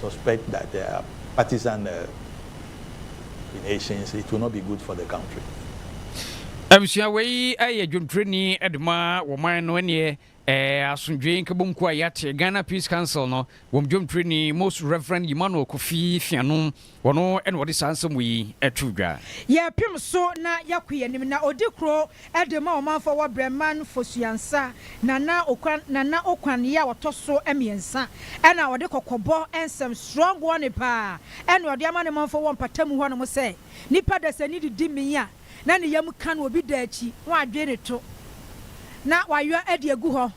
suspect that there are partisan machinations, it will not be good for the country. Abusua wei yɛ dwontoroni de ma wɔman no ɛneɛ asomdwee nkɛbom kuo a yɛate Ghana Peace Council no wɔn dwontoroni Most Reverend Emmanuel Kofi Fianom Ɔno na ɔde saa nsɛm wei to dwa. Yɛpem so na yɛko yɛnim na ɔdi kuro de ma ɔmanfoɔ wɔ Brɛman Fosuansa Nana Okwan Nana Okwan yɛ ɔtɔ so mmiɛnsa ɛna ɔde kɔkɔbɔ nsɛm strong warning paa ɛna ɔde ama ne manfoɔ wɔ mpatamu hɔ nom sɛ nipa dasani didi min a na ne yam ka no obi da akyi na wadwen ne to na wayɔ de agu hɔ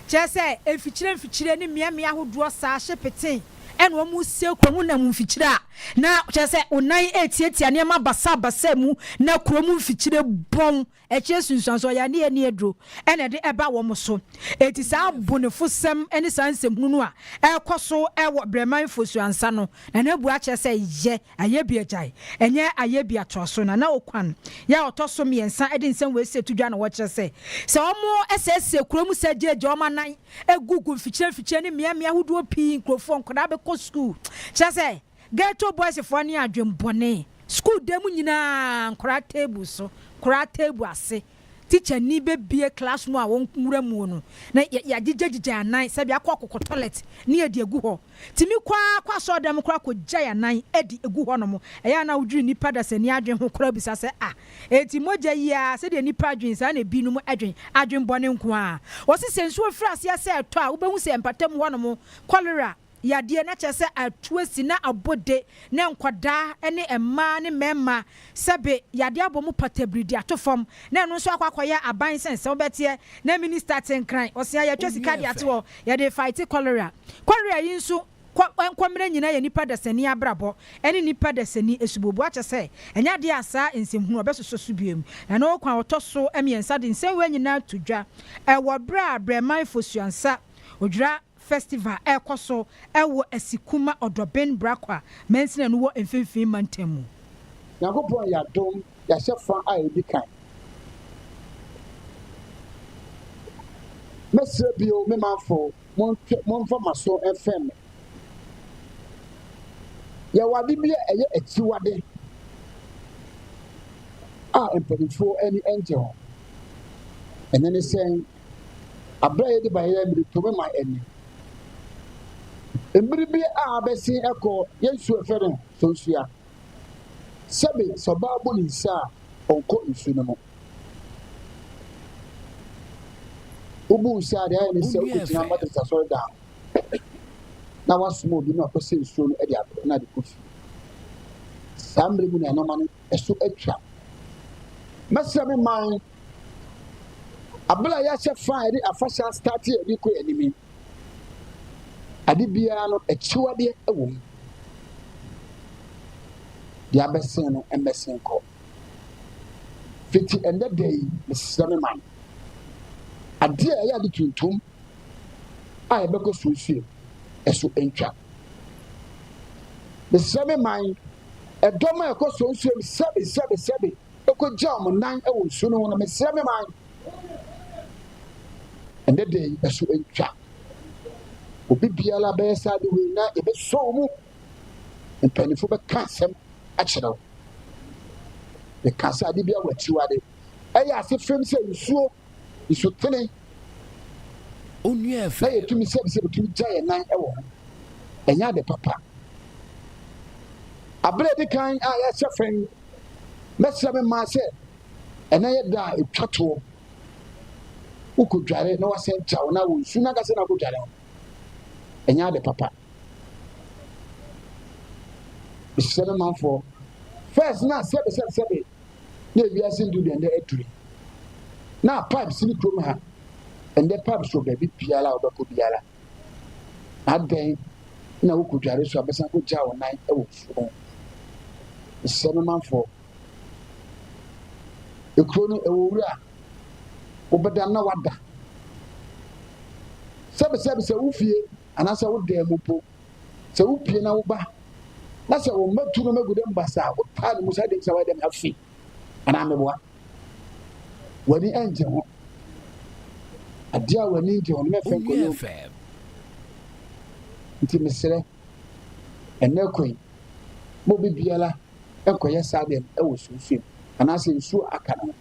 Kyerɛ sɛ, mfikyire mfikyire ne mmea mmea ahodoɔ saa hye petee na wɔresie kurom nam mfikyire a na kyerɛ sɛ wo nan retiatia nneɛma basaa basaa mu na kurom mfikyire bɔn akyire nsunsuansoɔ yɛ ne ani aduro na ɛde ɛba wɔn so. Enti saa abonefosɛm ne saa nsɛmhunu no a ɛrekɔ so wɔ Brɛman Fosuansa no Na na bua kyerɛ sɛ yɛ ayɛ bi agyae, ɛnyɛ ayɛ bi atoa so. Na na okwan yɛ a ɔtɔ so mmiɛnsa de nsɛm wei sɛ to dwa na wɔkyerɛ sɛ, sɛ wɔsɛesɛe kurow mu sɛ gyegye wɔn anan gu gu mfikyire mfikyire ne mmeammea ahodoɔ pii nkurofoɔ nkwadaa bɛkɔ sukuu. Kyerɛ sɛ, ghetto boys foɔ ne adwene bɔne. Sukuu dan mu nyinaa, nkwadaa table so, nkwadaa table ase. Tikyani bɛbue class no a wɔnwura muo no na yɛagyegyagyegya anan sɛbi akɔ akɔkɔ toilet ne adi agu hɔ. Tumi kɔ ara kɔ asɔɔdan mu koraa kɔgyae anan adi gu hɔ nom. Ɛyɛ a na wodwiri nnipa dasani adwene ho koraa bisa sɛ ah enti mogya yi ara sɛdeɛ nnipa adwene saa na ebi nom dwene, adwene bɔne nko ara. Wɔse sɛ nsuo firi aseɛ sɛ ɛtɔ a wobɛhu sɛ mpatamu hɔ nom cholera yadeɛ, na kyerɛ sɛ atuasi na abode ne nkwadaa ne mmaa ne mmarima sɛbe yadeɛ abɔ mu patabiri de ato fam na ɛno nso akɔ akɔyɛ aban sɛn sɛ wobɛteɛ na minista te nkran ɔse a yɛatwa sika de ato hɔ yɛde fighte cholera cholera yi nso kɔ nkɔmmerɛ nyinaa yɛ nipa dasani abrabɔ ne nipa dasani asuboboa kyɛ sɛ ɛnyɛ adeɛ a saa nsɛm hunu ɔbɛsosɔ so biom na na ɔkwan a ɔtɔ so mmiɛnsa de nsɛm wei nyinaa to dwa ɛwɔ berɛ a brɛman fosuansa odwira Festival ɛrekɔ so wɔ Asikuma Ɔdɔben Brakwa mansini no wɔ Mfimfini Mantam mu. Nyankopɔn yɛ adom yɛahyɛ fa a ɛdi kan. Mɛsrɛ bio me manfo montwe momfa moaso mfɛm me. Yɛwɔ ade bi a ɛyɛ akyiwade a mpaninfoɔ ani ngye ho. Ɛno ne sɛn? Aber a yɛdze ba yɛyɛ mber tɔ mu ma hɛn. Mber bi a abɛsen kɔ yɛnsu yɛfrɛ no Sonsua. Sɛbe sɛ ɔbaa bu ne nsa a ɔnnkɔ nsu no mu. Wobu nsa a dza ayɛ ne sɛ wobegyina Methodist Asɔrdan na wɔasoma obi na ɔkɔsɛ nsuo no de abrɛ na de kɔ fie. Saa mmerɛ mu na nneɛma no ɛso atwa. Mɛsrɛ me man Aber a yɛahyɛ fã a yɛdze afahyɛ asetaatsee a yɛdze kɔ yɛn enyim yi, ade biara no ekyiwadeɛ wɔ mu. Deɛ abɛsen no mmɛsen kɔ. Fiti ɛndɛ da yi, mesrɛ me man, adeɛ a ɛyɛ ade tuntum a yɛbɛkɔ so nsuo ɛso ntwa. Mesrɛ me man, ɛdɔm a ɛkɔ so nsuo sɛbe sɛbe sɛbe. kogyaa mo nan wɔ nsu no ho no, mesrɛ me man, ɛnɛ da yi ɛso ntwa. Obi biara bɛyɛ saa de wei na ɛbɛsɔ wo mu. Mpanyinfo bɛka asɛm akyerɛ wo. Meka sɛ ade bi a wɔakyiwade ɛyɛ ase fam sɛ nsuo, nsutene na yɛtumi sɛ sɛ bɛtumi gya yɛn nan wɔ ho ɛnyɛ ade papa aberɛ di kan a yɛhyɛ fɛn Mɛsrɛ me mmaa sɛ ɛnɛ yɛ da a ɛtwa toɔ. Wokɔdware na woasɛn kyaw na wɔ nsu no ankasa na wokɔdware ho. Ɛnyɛ ade papa. Mesrɛ me manfoɔ, first na sɛbe sɛbe sɛbe na ewiase ndu deɛ ɛndɛ aduri. Na pipes ne kurom ha, ɛndɛ pipes wɔ baabi biara a wobɛkɔ biara. Adɛn na wokɔdware so a bɛsan kɔgyaa wo nan wɔ mfuo ho? Mesrɛ me manfoɔ, ekuro no ɛwɔ wura, wobɛda na wada. Sɛbesɛbe sɛ wo fie anaasɛ wo dan mu mpo, sɛ wopie na woba na sɛ wo mma tu no magu dɛ mbasa a, wotaa ne mu sɛ adɛn nti na wayɛ dɛm afi? anaa meboa? W'ani ngye ho. Adeɛ a w'ani ngye ho no mɛfɛ nkɔyɛ obi. Nti mesrɛ, ɛnɛ kwan ma obi biara nkɔyɛ saa deɛ no wɔ sunsum anaasɛ nsuo aka no ho.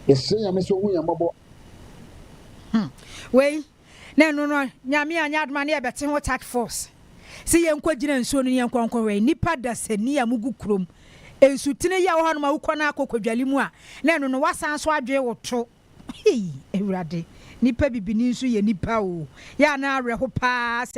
Yɛsrɛ Nyame sɛ ɔhu yɛn mmɔbɔ. Hmm. Wei, na ɛno no Nyame anyɛ adom a na yɛbɛte ho task force se yɛnkɔ gyina nsuo no ne yɛnkɔ nkɔ hwɛ nnipa dasani a mugu kurom nsutene yi a wɔhɔ nom a wokɔ no akɔ kwadwale mu a na ɛno no wasan nso adwee wo to hei awurade nnipa bibini nso yɛ nnipa o yɛ a na awerɛho paa sɛ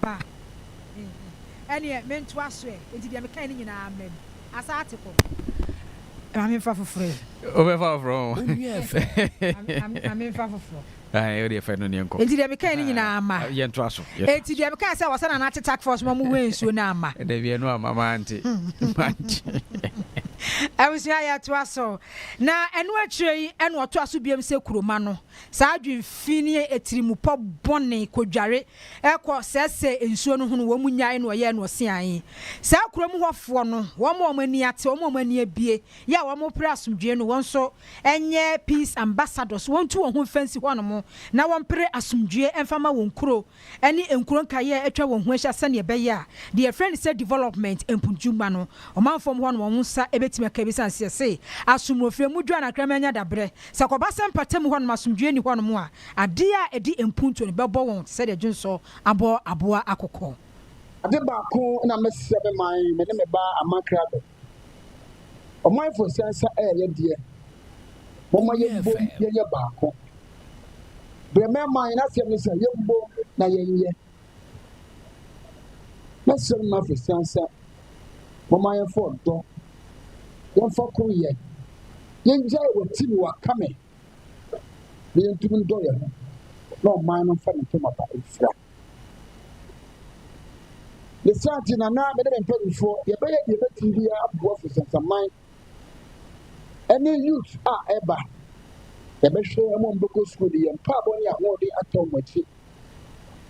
ba me ho. Ɛnneɛ mentoa so ɛ? Enti deɛ mekae no nyinaa mmam. Asate kɔ. Ma memfa foforɔ ɛ. Wobɛfa foforɔ ho. Wo nua fɛ. Ma memfa foforɔ. Ae, wodeɛ fa no ne nkɔ. Enti deɛ mekae no nyinaa amma. Yɛntoa so. Enti deɛ mekae sɛ wɔsɛ Nana te tack force ma mohuee nsuo no amma. Dabi, ɛno amma. Mante. Mante. Abusua, yɛtoa so. Na ɛno akyire yi na ɔtoa so biom sɛ Kuroma no. Saa adwene fi ne atirimupɔ bɔne kodware kɔ sɛesɛe nsuo no ho no wɔn nyae na wɔyɛɛ no ɔseaee. Saa kurom hɔfoɔ no, wɔn a wɔn ani ate, wɔn a wɔn ani abue, yɛ a wɔpere asomdwoeɛ no, wɔn nso nyɛ peace ambassadors, wɔntu wɔn ho mfa nsi hɔnom na wɔmpere asomdwoeɛ mfa mma wɔn kuro. ne nkuro nkaeɛ a atwa wɔn ho ahyia sɛdeɛ ɛbɛyɛ a deɛ yɛfrɛ no sɛ development mpuntumma no ɔman fam hɔ no wɔn nsa bɛtumi aka ɛbɛsiane sɛ yɛse asomrofie mu dwa na akraman nya dabrɛ sɛ kɔba sɛ mpata mu hɔ nom asomdwoeɛ nni hɔ nom a adeɛ a ɛdi mpuntuo no bɛbɔ wɔn te sɛ deɛ dwonsɔ abɔ aboa akokɔ. Ade baako na mɛsrɛ me man, me ne me ba Aman Krado, Ɔmanfo nsa nsa ɛyɛ deɛ. Moma yɛn mbom yɛnyɛ baako. Brɛmɛ ma yɛn asɛm ne sɛ yɛn mbom na yɛnyɛ. Na sɛm ma fo nsa nsa. Moma yɛn fɔ dɔ. Yɛn fa koro yɛ. Yɛn gyae wɔ ti ne wɔ akame. na yɛntumi ndɔ yɛn ho na ɔman no mfa ne ntam aba mfira ne saa nti na na mede me mpanimfoɔ yɛbɛyɛ deɛ bɛtumi bi aboa fo sɛnsaman ɛne youth a ɛba yɛbɛhwɛ wɔn a wɔbɛkɔ sukuu de yɛn mpaabɔ ne ahoɔden atɔ wɔn akyi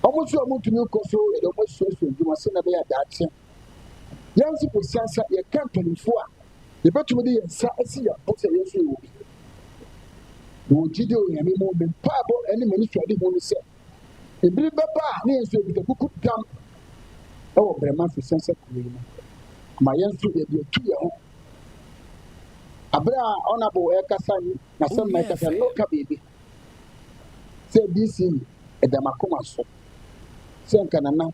wɔn nso a wɔntumi nkɔ so yɛde wɔn asuasua adwuma sɛ na ɛbɛyɛ daakye Yɛn nso bosea sɛ yɛka mpanyimfo a, yɛbɛtumi de yɛn nsa asi yɛn bo sɛ yɛmfrɛ wɔ bi. Wɔ gyidi wɔ Nyame mu, me mpaebɔ ne m'anisoadehu ne sɛ, ebiri bɛba a ne yɛn nso yɛkuta kuku dam wɔ brɛma mfesɛnsɛ kuro yi mu ma yɛn nso yɛde atu yɛn ho abere a ɔnabo ɛkasa yi na sɛm na ɛkasa no ka biribi sɛ dc ɛda makoma so sɛ nka nana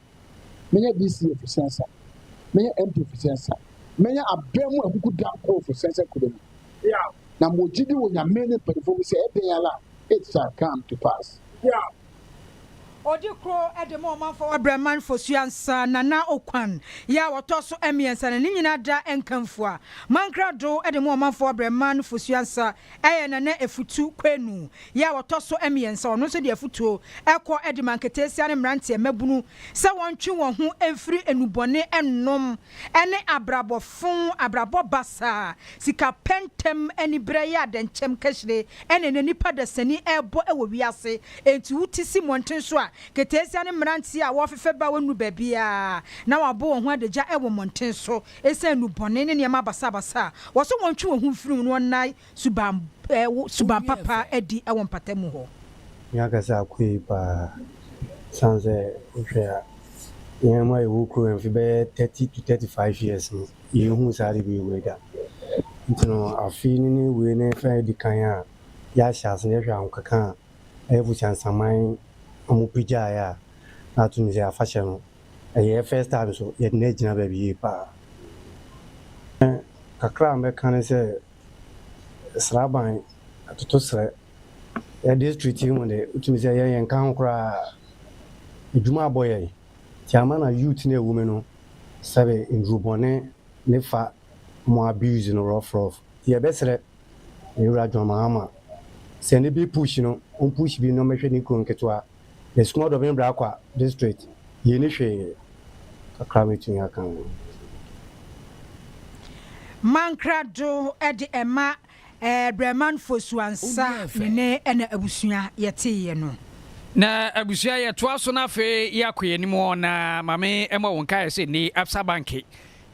Mɛnya BCA fo sɛnsa. Mɛnya MP fo sɛnsa. Mɛnya abɛn mu akuku da koro fo sɛnsa kuro mu. Yeah. Na mo gyidi wɔ nyame ne mpanyinfoɔ mu sɛ ɛdɛn ala it shall come to pass. Yeah. Odi kuro ɛde mo ɔmanfoɔ wɔ Brɛman Fosua nsa Nana Okwan yɛ a ɔtɔ so ɛmiɛnsa na ne nyinaa da ɛnkanfua. Mankrado ɛde mo ɔmanfoɔ wɔ Brɛman Fosua nsa Ɛyɛ Nana Afutu Kwenu yɛ a ɔtɔ so mmiɛnsa. Ɔno nso de afutuo kɔ de ma nketeesia ne mmeranteɛ mmabunu sɛ wɔntwe wɔn ho mfiri nnubɔne nnom ne abrabɔ fo, abrabɔ basaa, sika pɛ ntɛm, aniberɛ, yɛ adɛnkyɛm kahyire na ɛnɛ nnipa dasani rebɔ wɔ wiase. Enti wote si mmɔnten so a, nketeesia ne mmeranteɛ a wɔrefefɛ ba a wɔnnuru baabiara na wɔabɔ wɔn ho adagya wɔ mmɔnten so. Esiane nnubɔne ne nneɛma basabasa a wɔsɛ wɔntwe wɔn ho mfiri ho no ɔnnae suban wo suban papa adi wɔ mpatamu hɔ. Me ankasa akɔ yie paa ɛsiane sɛ wohwɛ a yɛn mu a yɛwɔ kurom ha mfe bɛyɛ thirty to thirty five years no yɛnhuu saa ade bɛyɛ wei da nti no afe no ne wei no ɛfɛ adi kan a yɛahyɛ ase na yɛhwɛ ahokeka a ɛyɛ Busia Nsaman ɔmo pagyaeɛ a na ato no sɛ afahyɛ no Ɛyɛ first time so yɛde no agyina baabi yie paa. Ɛɛ kakra a mɛka ne sɛ Sraban, Atotosrɛ, yɛ district yi mu de, wotumi sɛ yɛn yɛnka ho koraa. Adwuma abɔ yɛn. Nti ama na youth no awu me no, sɛbe nnuru bɔne ne fa mo abuse no rough rough. Nti yɛbɛsrɛ yɛn wura John Mahama sɛ ne big push no, ɔmpush bi na ɔmmɛhwɛ ne kuro nketewa. The small Dobin Bracwa district yii no hwee. Kakra mɛtumi aka ho. Mankra do de ɛma Brɛman Fosu Ansa ne ne na abusua yɛteeɛ no. Na abusua yɛtoa so na afei yɛakɔ yɛn anim ɔ na mame ɛmɔ wo nkaeɛ sɛ nne Absa Banke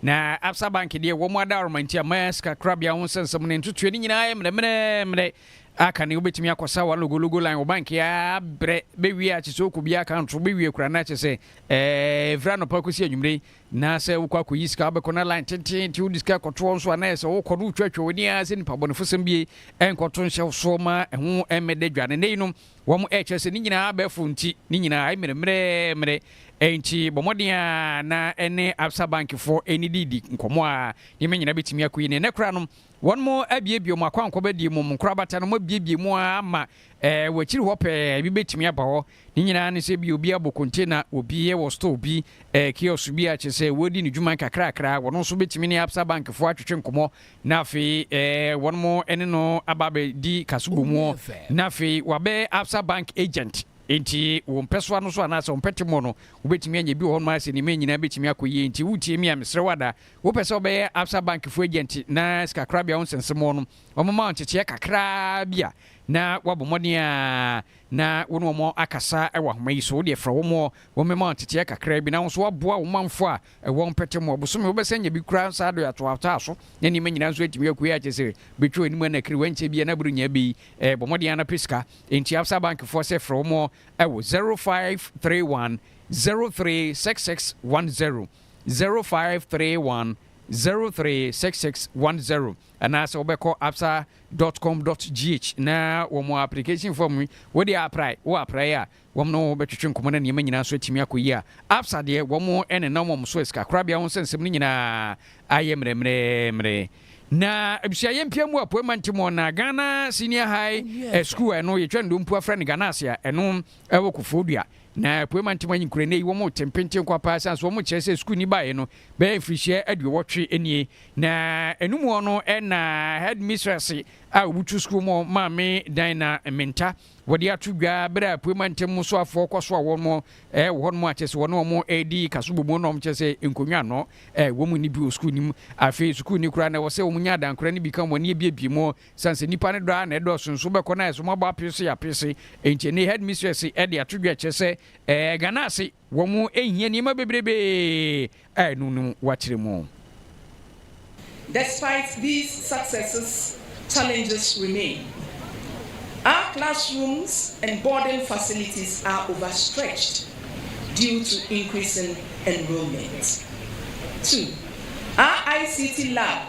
na Absa Banke deɛ wɔn adaworoma nti ama sika korabea ho nsɛnsɛm ne ntotoɛ ne nyinaa yɛ mmerɛ mmerɛ mmerɛ A Kane wobɛtumi akɔ sa w'alogologo line wɔ bank a brɛ bɛ wie a kyesɛ ɔkɔ bia account so bɛ wie kura na kyesɛ eh ɛfiri anɔpa kɔsi anwumire yi na sɛ wokɔ akɔ yi sika wobɛkɔ na line tenten ti wode sika kɔtoɔ nso a na ɛsɛ wokɔ no wotwa twa wani a sɛ nipa bɔnefo sɛm bie ɛnkɔto nhyɛ wo soɔ ma ɛho ɛmmɛda dwa ne nɛ yi no wɔn ɛkyerɛ sɛ ne nyinaa bɛfo nti ne nyinaa ɛmmerɛ mmerɛ mmerɛ ɛnti bɔ mmɔden a na ɛne absa bank foɔ ɛnididi nkɔmɔ a nneɛma nyinaa bɛtumi akɔ yi ne nɛ kora no Wɔn mo abiebie mo akwankɔba die mom nkorabata no mo abiebie mu ara ama ɛɛ wɔ akyiri hɔ pɛɛ ebi bɛtumi aba hɔ ne nyinaa ne sɛ ebia obi abɔ container wɔ bi wɔ store bi ɛɛ kiosk bi a kyerɛ sɛ wɔredi ne dwuma nkakrakra wɔn nso bɛtumi ne absa bank foɔ atwetwe nkɔmɔ na afei ɛɛ wɔn mo ɛne no aba abɛdi kaso wɔ mu na afei wabɛ absa bank agent nti wɔn pɛsoa no so anaasɛ wɔn pɛtemɔ no wobɛtumi anya bi wɔ hɔ nom ayɛ sɛ nneɛma nyinaa bɛtumi akɔ yie nti wotie mi a mesrɛ wada Wopɛ sɛ wobɛyɛ Absa Bank fo agent na sikakorabea wo nsɛnsɛmmoɔ no wɔma wo nkyekyeɛ kakraa bi a, na woabɔ mmɔden a na wo ne wɔn akasa wɔ ahoma yi so. Wodeɛ frɛ wɔn wɔmmɛma wo nkyekyeɛ kakraa bi na wo nso woaboa wo manfoɔ a ɛwɔ mpɛtɛ mu. Ɔbosome wobɛsan nya bi koraa saa dɔ atoatoa so na nneɛma nyinaa nso atumi akue a kyerɛ sɛ bɛtwa w'anim anakiri wankyɛ bi a na borɔnya bɛ yi eh, bɔ mmɔden a na pɛ sika. Enti Absa Bank foɔ sɛ frɛ wɔn wɔ 0531 036610. zero five three one zero three six six one zero anaasɛ wobɛkɔ absa dot com dot gh na wɔn application form yi wode aprae wo aprae a wɔn no bɛtwetwe nkɔmɔ na nneɛma nyinaa nso atumi akɔ yie a absa deɛ wɔn ɛne nam wɔn so asika korabea ho nsɛnsɛm no nyinaa ayɛ mmerɛmmerɛmmerɛ na abusua yɛ mpia mu apoe mante mu na Ghana senior high eh, school ɛno yɛtwa ndompu afrɛ no Ghana ase a ɛno ɛwɔ kofoɔ dua Na Apuei Mantam anyi kura nnɛ yi wɔn te mpenten nko ara paa ɛsiane sɛ wɔkyerɛ sɛ sukuuni baeɛ no bɛyɛ mfirihyia aduowɔtwe nie. Na ɛno mu hɔ no na Headmistress a ɔbutu sukuu mu Maame Dina Menta wɔde ato dwa berɛ a Apuei Mantam mu soafoɔ kɔsoa wɔn wɔ hɔ nom a kyerɛ sɛ wɔne wɔn redi kasubɔmu nom kyerɛ sɛ nkonnwa ano wɔn nni bi wɔ sukuu no mu. Afei sukuuni koraa na ɛwɔ sɛ wɔnya adankora no bi ka wɔn ani abiebie mu Esiane sɛ nnipa no dɔ ara na ɛdɔɔso nso, wobɛkɔ na ayɛ sɛ wɔabɔ apee so yɛ apee se. Enti ɛnnɛ yi, headmistress de ato dwa kyerɛ sɛ Ghana ase, wɔhia nneɛma bebrebe a ɛno no wɔakyerɛ mu. Despite these successes, challenges remain. Our classrooms and boarding facilities are overstretched due to increasing enrollment. Two, our ICT lab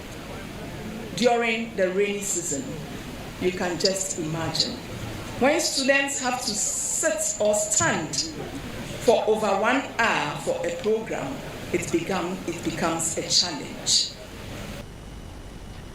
during the rainy season you can just imagine when students have to sit or stand for over one hour for a program it become it becomes a challenge.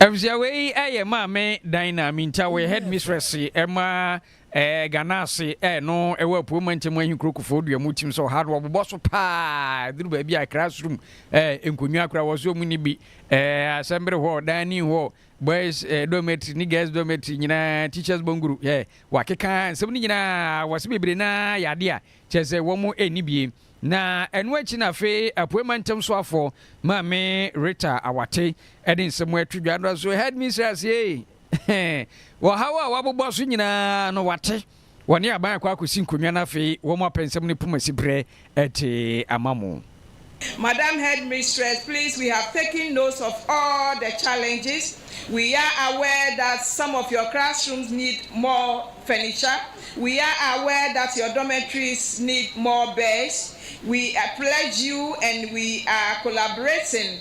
Abusua wei yɛ maame dan na Aminta wɔyɛ headmistress ma Ɛɛ Ghana ase ɛɛ no ɛwɔ Apueɛ Mantam Ahenkuro Kufoɔ Dua mu tim sɛ ɔha no wɔbobɔ so paa ɛduru baabi a ɛkra soro mu ɛɛ nkonnwa koraa wɔ so ɔmu ni bi ɛɛ assembly hall, dining hall, boys ɛɛ dormitory ne girls dormitory nyinaa teachers bungalow ɛɛ wɔakeka nsɛm no nyinaa wɔse bebree no ara yɛ adeɛ a kyerɛ sɛ wɔn ɛnni bie na ɛno akyi na afei Apueɛ Mantam soafoɔ Maame Rita Awate ɛde nsɛm ɛto dwa no so headmistress ee. Wɔ ɔhaw a wɔabobɔ so nyinaa no, wɔate. Wɔne aban akɔ akosi nkonnwa na afei wɔn apɛnsɛm ne poma siberɛ te ama mo. Madam Headmistress, please we have taken notes of all the challenges. We are aware that some of your classrooms need more furniture. We are aware that your dormitories need more beds. We pledge you and we are collaborating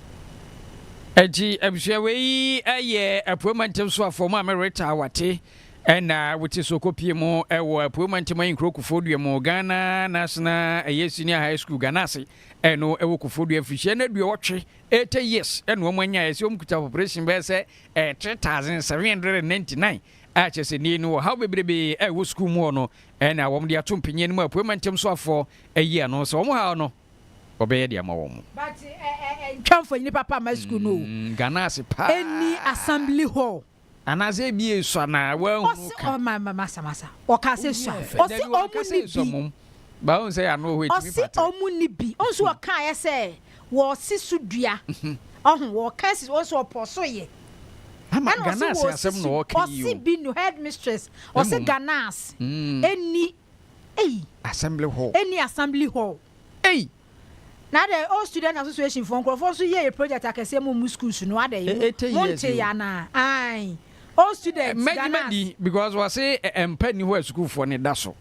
Enti abusua wei yi yɛ Apueɛ Mantam so afɔm a Mereta Awate na wote so kɔpie mu wɔ Apueɛ Mantam Ayinkuro Kofodua mu, Ghana National ɛyɛ Senior High School, Ganase, ɛno wɔ Kofodua. Mfirihyia no aduɔwɔtwe, 80 years, na wɔn anya ɛsɛ wɔn kuta population bɛyɛ sɛ 3,799 a kyerɛ sɛ nnɛ yi no ɔhaw bebrebe a ɛwɔ sukuu mu hɔ no na wɔn de ato mpanyin anim a Apueɛ Mantam so afɔ ayi ano sɛ wɔn haw no. ɔbɛyɛ de ama wɔn. But ntwa mfonyini papa mma school no o. Mm, Ghana ase paa. Ɛni assembly hall. Anaasɛ ebi esua na wɔahunu ka. Ɔma ma masa masa. Ɔka sɛ sua. Ɔsi ɔmo ni bi. Baahu sɛ ano hɔ etimi patre. Ɔsi ɔmo ni bi. Ɔnso ɔka ayɛ sɛ wɔsi so dua. Ɔho wɔka si ɔnso ɔpɔ so yɛ. Ama Ghana ase asɛm na ɔka yi o. Ɔsi bi no headmistress. Ɔsi Ghana ase. Ɛni. Ei! Assembly hall. Ɛnni Assembly hall. Ei! Na adɛn Old Student Association foɔ, nkurɔfoɔ nso yɛ yɛ project akɛseɛ mo mo schools no, adɛn? Mo, Eighty years montee o. anaa? Ae! Old Students, Mɛgye Ghana's. madi because wɔse ɛ, mpa nni hɔ a sukuufoɔ no da so.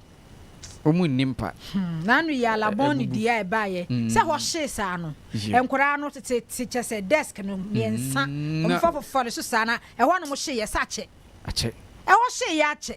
Wɔn nni mpa. Hmm, na ano yi ara bɔn ne dua a ɛbaeɛ sɛ hɔ hyee saa no, Yep. nkwadaa no tete te kyɛ sɛ desk no mmiɛnsa, Mm, na- wɔmfa fofofɔ no so saa na ɛhɔ a na wɔhyeeɛ sɛ akyɛ. Akyɛ. Ɛhɔ hyeeɛ akyɛ.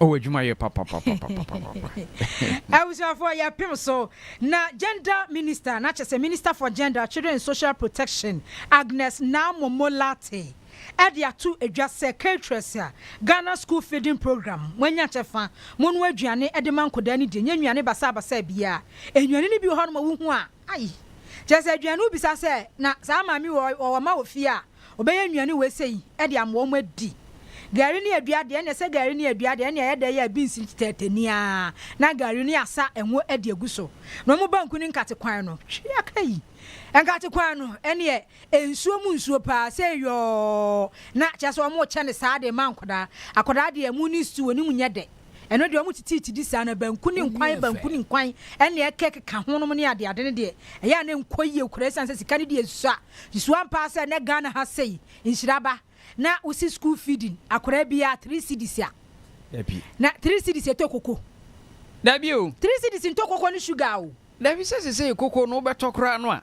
Oh, adwuma yɛ papapapapapapa. Abusuafoɔ yɛpem so na Gender Minister na kyɛ sɛ Minister for Gender, Children and Social Protection Agnes Naamomo Lartey ɛde ato dwa sɛ Caterers a Ghana School Feeding Program mo anya kyɛfa, monoa aduane ɛde ma nkodaa no die, nyɛ nnuane basaa basaa biaa, nnuane no bi wɔ hɔ nom a wohu a, Ai! Kyerɛ sɛ aduane wobisa sɛ na saa maame wei ɔwɔ mma wɔ fie a, ɔbɛyɛ nnuane wei sei de ama wɔn adi. Gari ne adua deɛ ɛnneɛ sɛ gari ne adua deɛ ɛnneɛ ɛyɛ dɛ yɛ a binsi tɛɛtɛ ni ara na gari no yɛasa ngo de agu so na wɔn banku ne nkate kwan no twe akai. Nkate kwan no ɛnneɛ nsuo mu nsuo paa sɛ yɔɔ na kyerɛ sɛ wɔrekyɛ no saa de rema nkwadaa. Akwadaa deɛ ɛmo ne stew no mu nyɛ dɛ. Ɛno deɛ, wɔtitiiti di saa, na banku ne nkwan, banku ne nkwan, ɛnna ɛkekeka ho nom ne adeade no deɛ, ɛyɛ a na ɛnkɔ yie koraa esiane sɛ sika no deɛ esua. Nso ampa ara sɛ ɛnnɛ Ghana ha sei, nhyira aba na wosi school feeding akwadaa biara three cedis a, na three cedis ɛtɔ koko? Dabi o. Three cedis ntɔ koko ne sugar o. Dabi, sɛ seesei koko no wobɛtɔ koraa no a,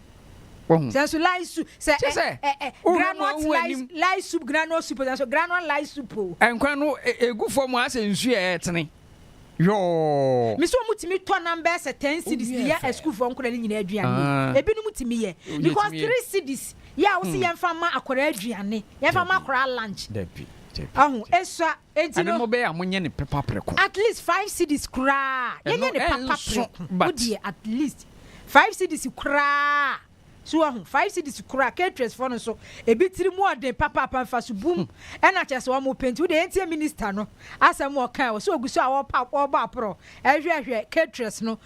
Wahu? Sɛ nso lye soup sɛ Kyerɛ sɛ, ɛ ɛ ɛ wohwɛ mu a, granot wohu lye anim. lye soup granot soup sɛ nso granot lye soup o. Nkwan no e egu fam a asɛ nsu a ɛretene yɔɔ. Me sɛ ɔmo tumi tɔ nam bɛyɛ sɛ ten cedis de yɛ asukuufoɔ nkwadaa no nyinaa aduane o. Ah. Ebinom tumi yɛ. Wogye Because tumi yɛ. three cedis yɛ a wose yɛmfa mma akwadaa aduane, yɛmfa mma Dabi. akwadaa lunch. Dabi, dabi, Ɔho, dabi. esua Enti no. Ɛno mo bɛyɛ a mo nyɛ no pepa preko. At least five cedis koraa yɛ nyɛ no papa preko wo deɛ at least five cedis koraa so wɔ ho five cedis koraa caterers fɔ no so ebi tiri mu ɔden papaapa nfa so bum ɛna kyɛ sɛ wɔn mo penti wo deɛ yɛntie minister no asɛm wɔ kan wɔ so ogu so a wɔpa wɔbɔ aporɔ ɛhwɛhwɛ caterers no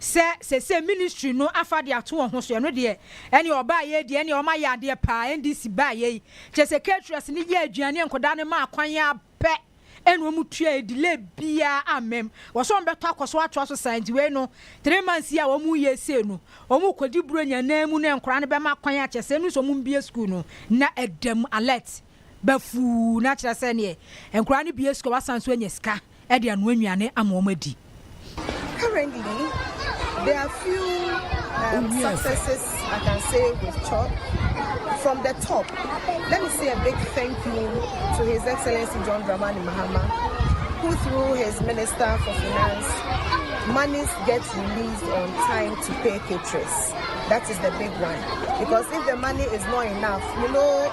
sɛ sesei ministry no afa de ato wɔn ho so, ɛno deɛ, ɛnneɛ ɔbaeɛ deɛ, ɛnneɛ wɔayɛ adeɛ paa, NDC baeɛ yi, kyerɛ sɛ caterers no yɛɛ aduane, nkwadaa no maa kwan ara pɛ ɛna wɔn tuaeɛ, delay biara amma mu, wɔ sɛ wɔbɛtɔ akɔ so atoa so saa, nti wei no, three months yi a wɔn reyɛ sei no, wɔn rekɔdi Buronya nan mu na nkwadaa no bɛma kwan a, kyerɛ sɛ ɛno nso wɔn mmue school no na ɛda mu, alert. bɛfuw na kyerɛ sɛ neɛ nkwadaa no bue sukuu a wɔasan so anya sika de anoa nnuane ama wɔn adi. Currently, there are few um, successes I can say with CHOP. From the top, let me say a big thank you to His Excellency John Dramani Mahama, who through his Minister for Finance, monies get released on time to pay caterers. That is the big one. Because if the money is not enough, you know,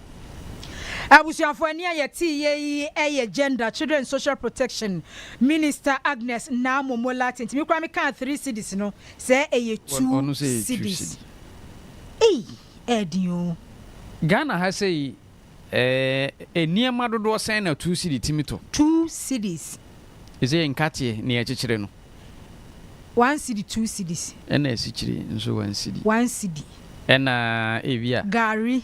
Abusuafo ɛnne a yɛteeɛ yi yɛ Gender, Children and Social Protection Minister Agnes Naamoh Molathe nti me koraa me kaa three cedis no sɛ ɛyɛ two cedis. Ei! Ɛɛden oo. Ghana ha sei ɛɛ nneɛma dodoɔ sɛn na two cedi tumi tɔ? Two cedis. Ɛsɛ nkateɛ ne yɛkyekyere no. One cedi two cedis. Ɛna asikyire nso one cedi. One cedi. Ɛna ebia. Gari.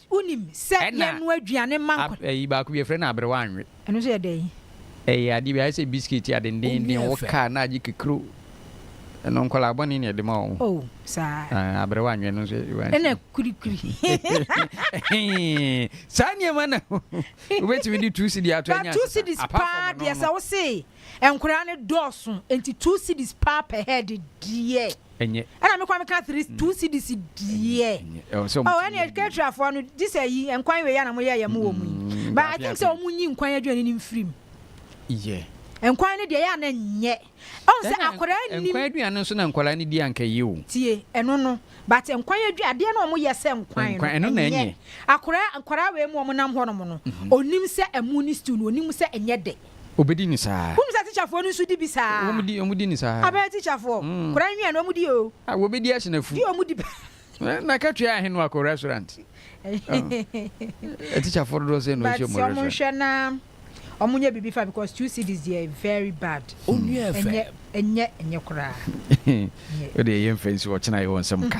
Wonim sɛ yɛn noa aduane ma nkwa. Ayi baako bi yɛfrɛ no aberewa anwe. Ɛno nso yɛ dɛn? Ɛyɛ adeɛ bi ayɛ sɛ biskit a dendeenden wo kaa na agye kekro ɛno nkwadaa bɔne na ɛde ma wɔn. Oh saa. Ah aberewa anwe no nso. Ɛna kurikuri. Saa nneɛma na wobɛtumi de two cedi ato anya. Two cedis paa deɛ sɛ wo se nkwadaa no dɔɔso nti two cedis paa pɛ hɛ de deɛ. Ɛnyɛ. Ɛna me kɔ me ka three two cedis deɛ. Ɛwɔ sɛ ɔmo. Oh ɛna Ketra foɔ no gye sɛ yi nkwan wei ana mo yɛ yɛ mo wɔ mu yi. Mm, But I think sɛ ɔmo nyi nkwan aduane ne mfirim. Yɛ. Nkwan no deɛ yɛ ana nyɛ. Ɔmo sɛ akwadaa nim. Nkwan aduane nso na nkwadaa no di anka yɛ o. Tie ɛno no but nkwan aduane adeɛ na ɔmo yɛ sɛ nkwan no. Nkwan ɛno na ɛnyɛ. Akwadaa nkwadaa wei mu ɔmo nam hɔ nom no. Onim mhm. sɛ ɛmo ne stew no onim sɛ ɛnyɛ dɛ. Obedi no saa. Wohu sɛ tikyafoɔ no nso di bi saa. Wɔn di, wɔn di no saa. Abɛyɛ tikyafoɔ. Mm. Koraa nwia no wɔn di o. A wɔbedi ahyɛ no afu. Di wɔn di paa. Eh, na katua ahe no akɔ restaurant? Eh, tikyafoɔ dodoɔ sɛ na ɔhyɛ mu restaurant. But wɔn nhwɛ na wɔn nyɛ biribi fa because two cities deɛ very bad. Onua fɛ. Ɛnyɛ ɛnyɛ ɛnyɛ koraa. O deɛ yɛn fɛ nsi ɔkyena yɛ wɔn nsɛm ka.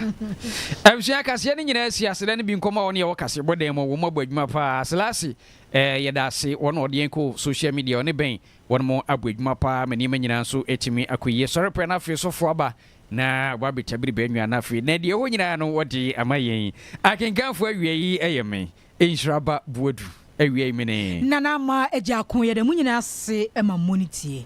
Abusua kaseɛ ne nyinaa si asedɛ ne bi nkɔmɔ a wɔn yɛ wɔ kaseɛ bɔ dan mu wɔn abɔ adwuma paa. Selasi Eh yɛda ase wɔn a ɔde yɛn kɔ social media ɔne bɛn wɔn mo abɔ adwuma paa ma nneɛma nyinaa nso atumi akɔ yie sɔre pɛ na afei sɔfo aba na wabɛtwa bere bɛ nwa na afei na deɛ ɛwɔ nyinaa no wɔde ama yɛn akenkanfo awia yi ɛyɛ me nhyira ba boadu awia yi mene. Nana Ama Agya Ako yɛda mo nyinaa ase ma mo ne tie.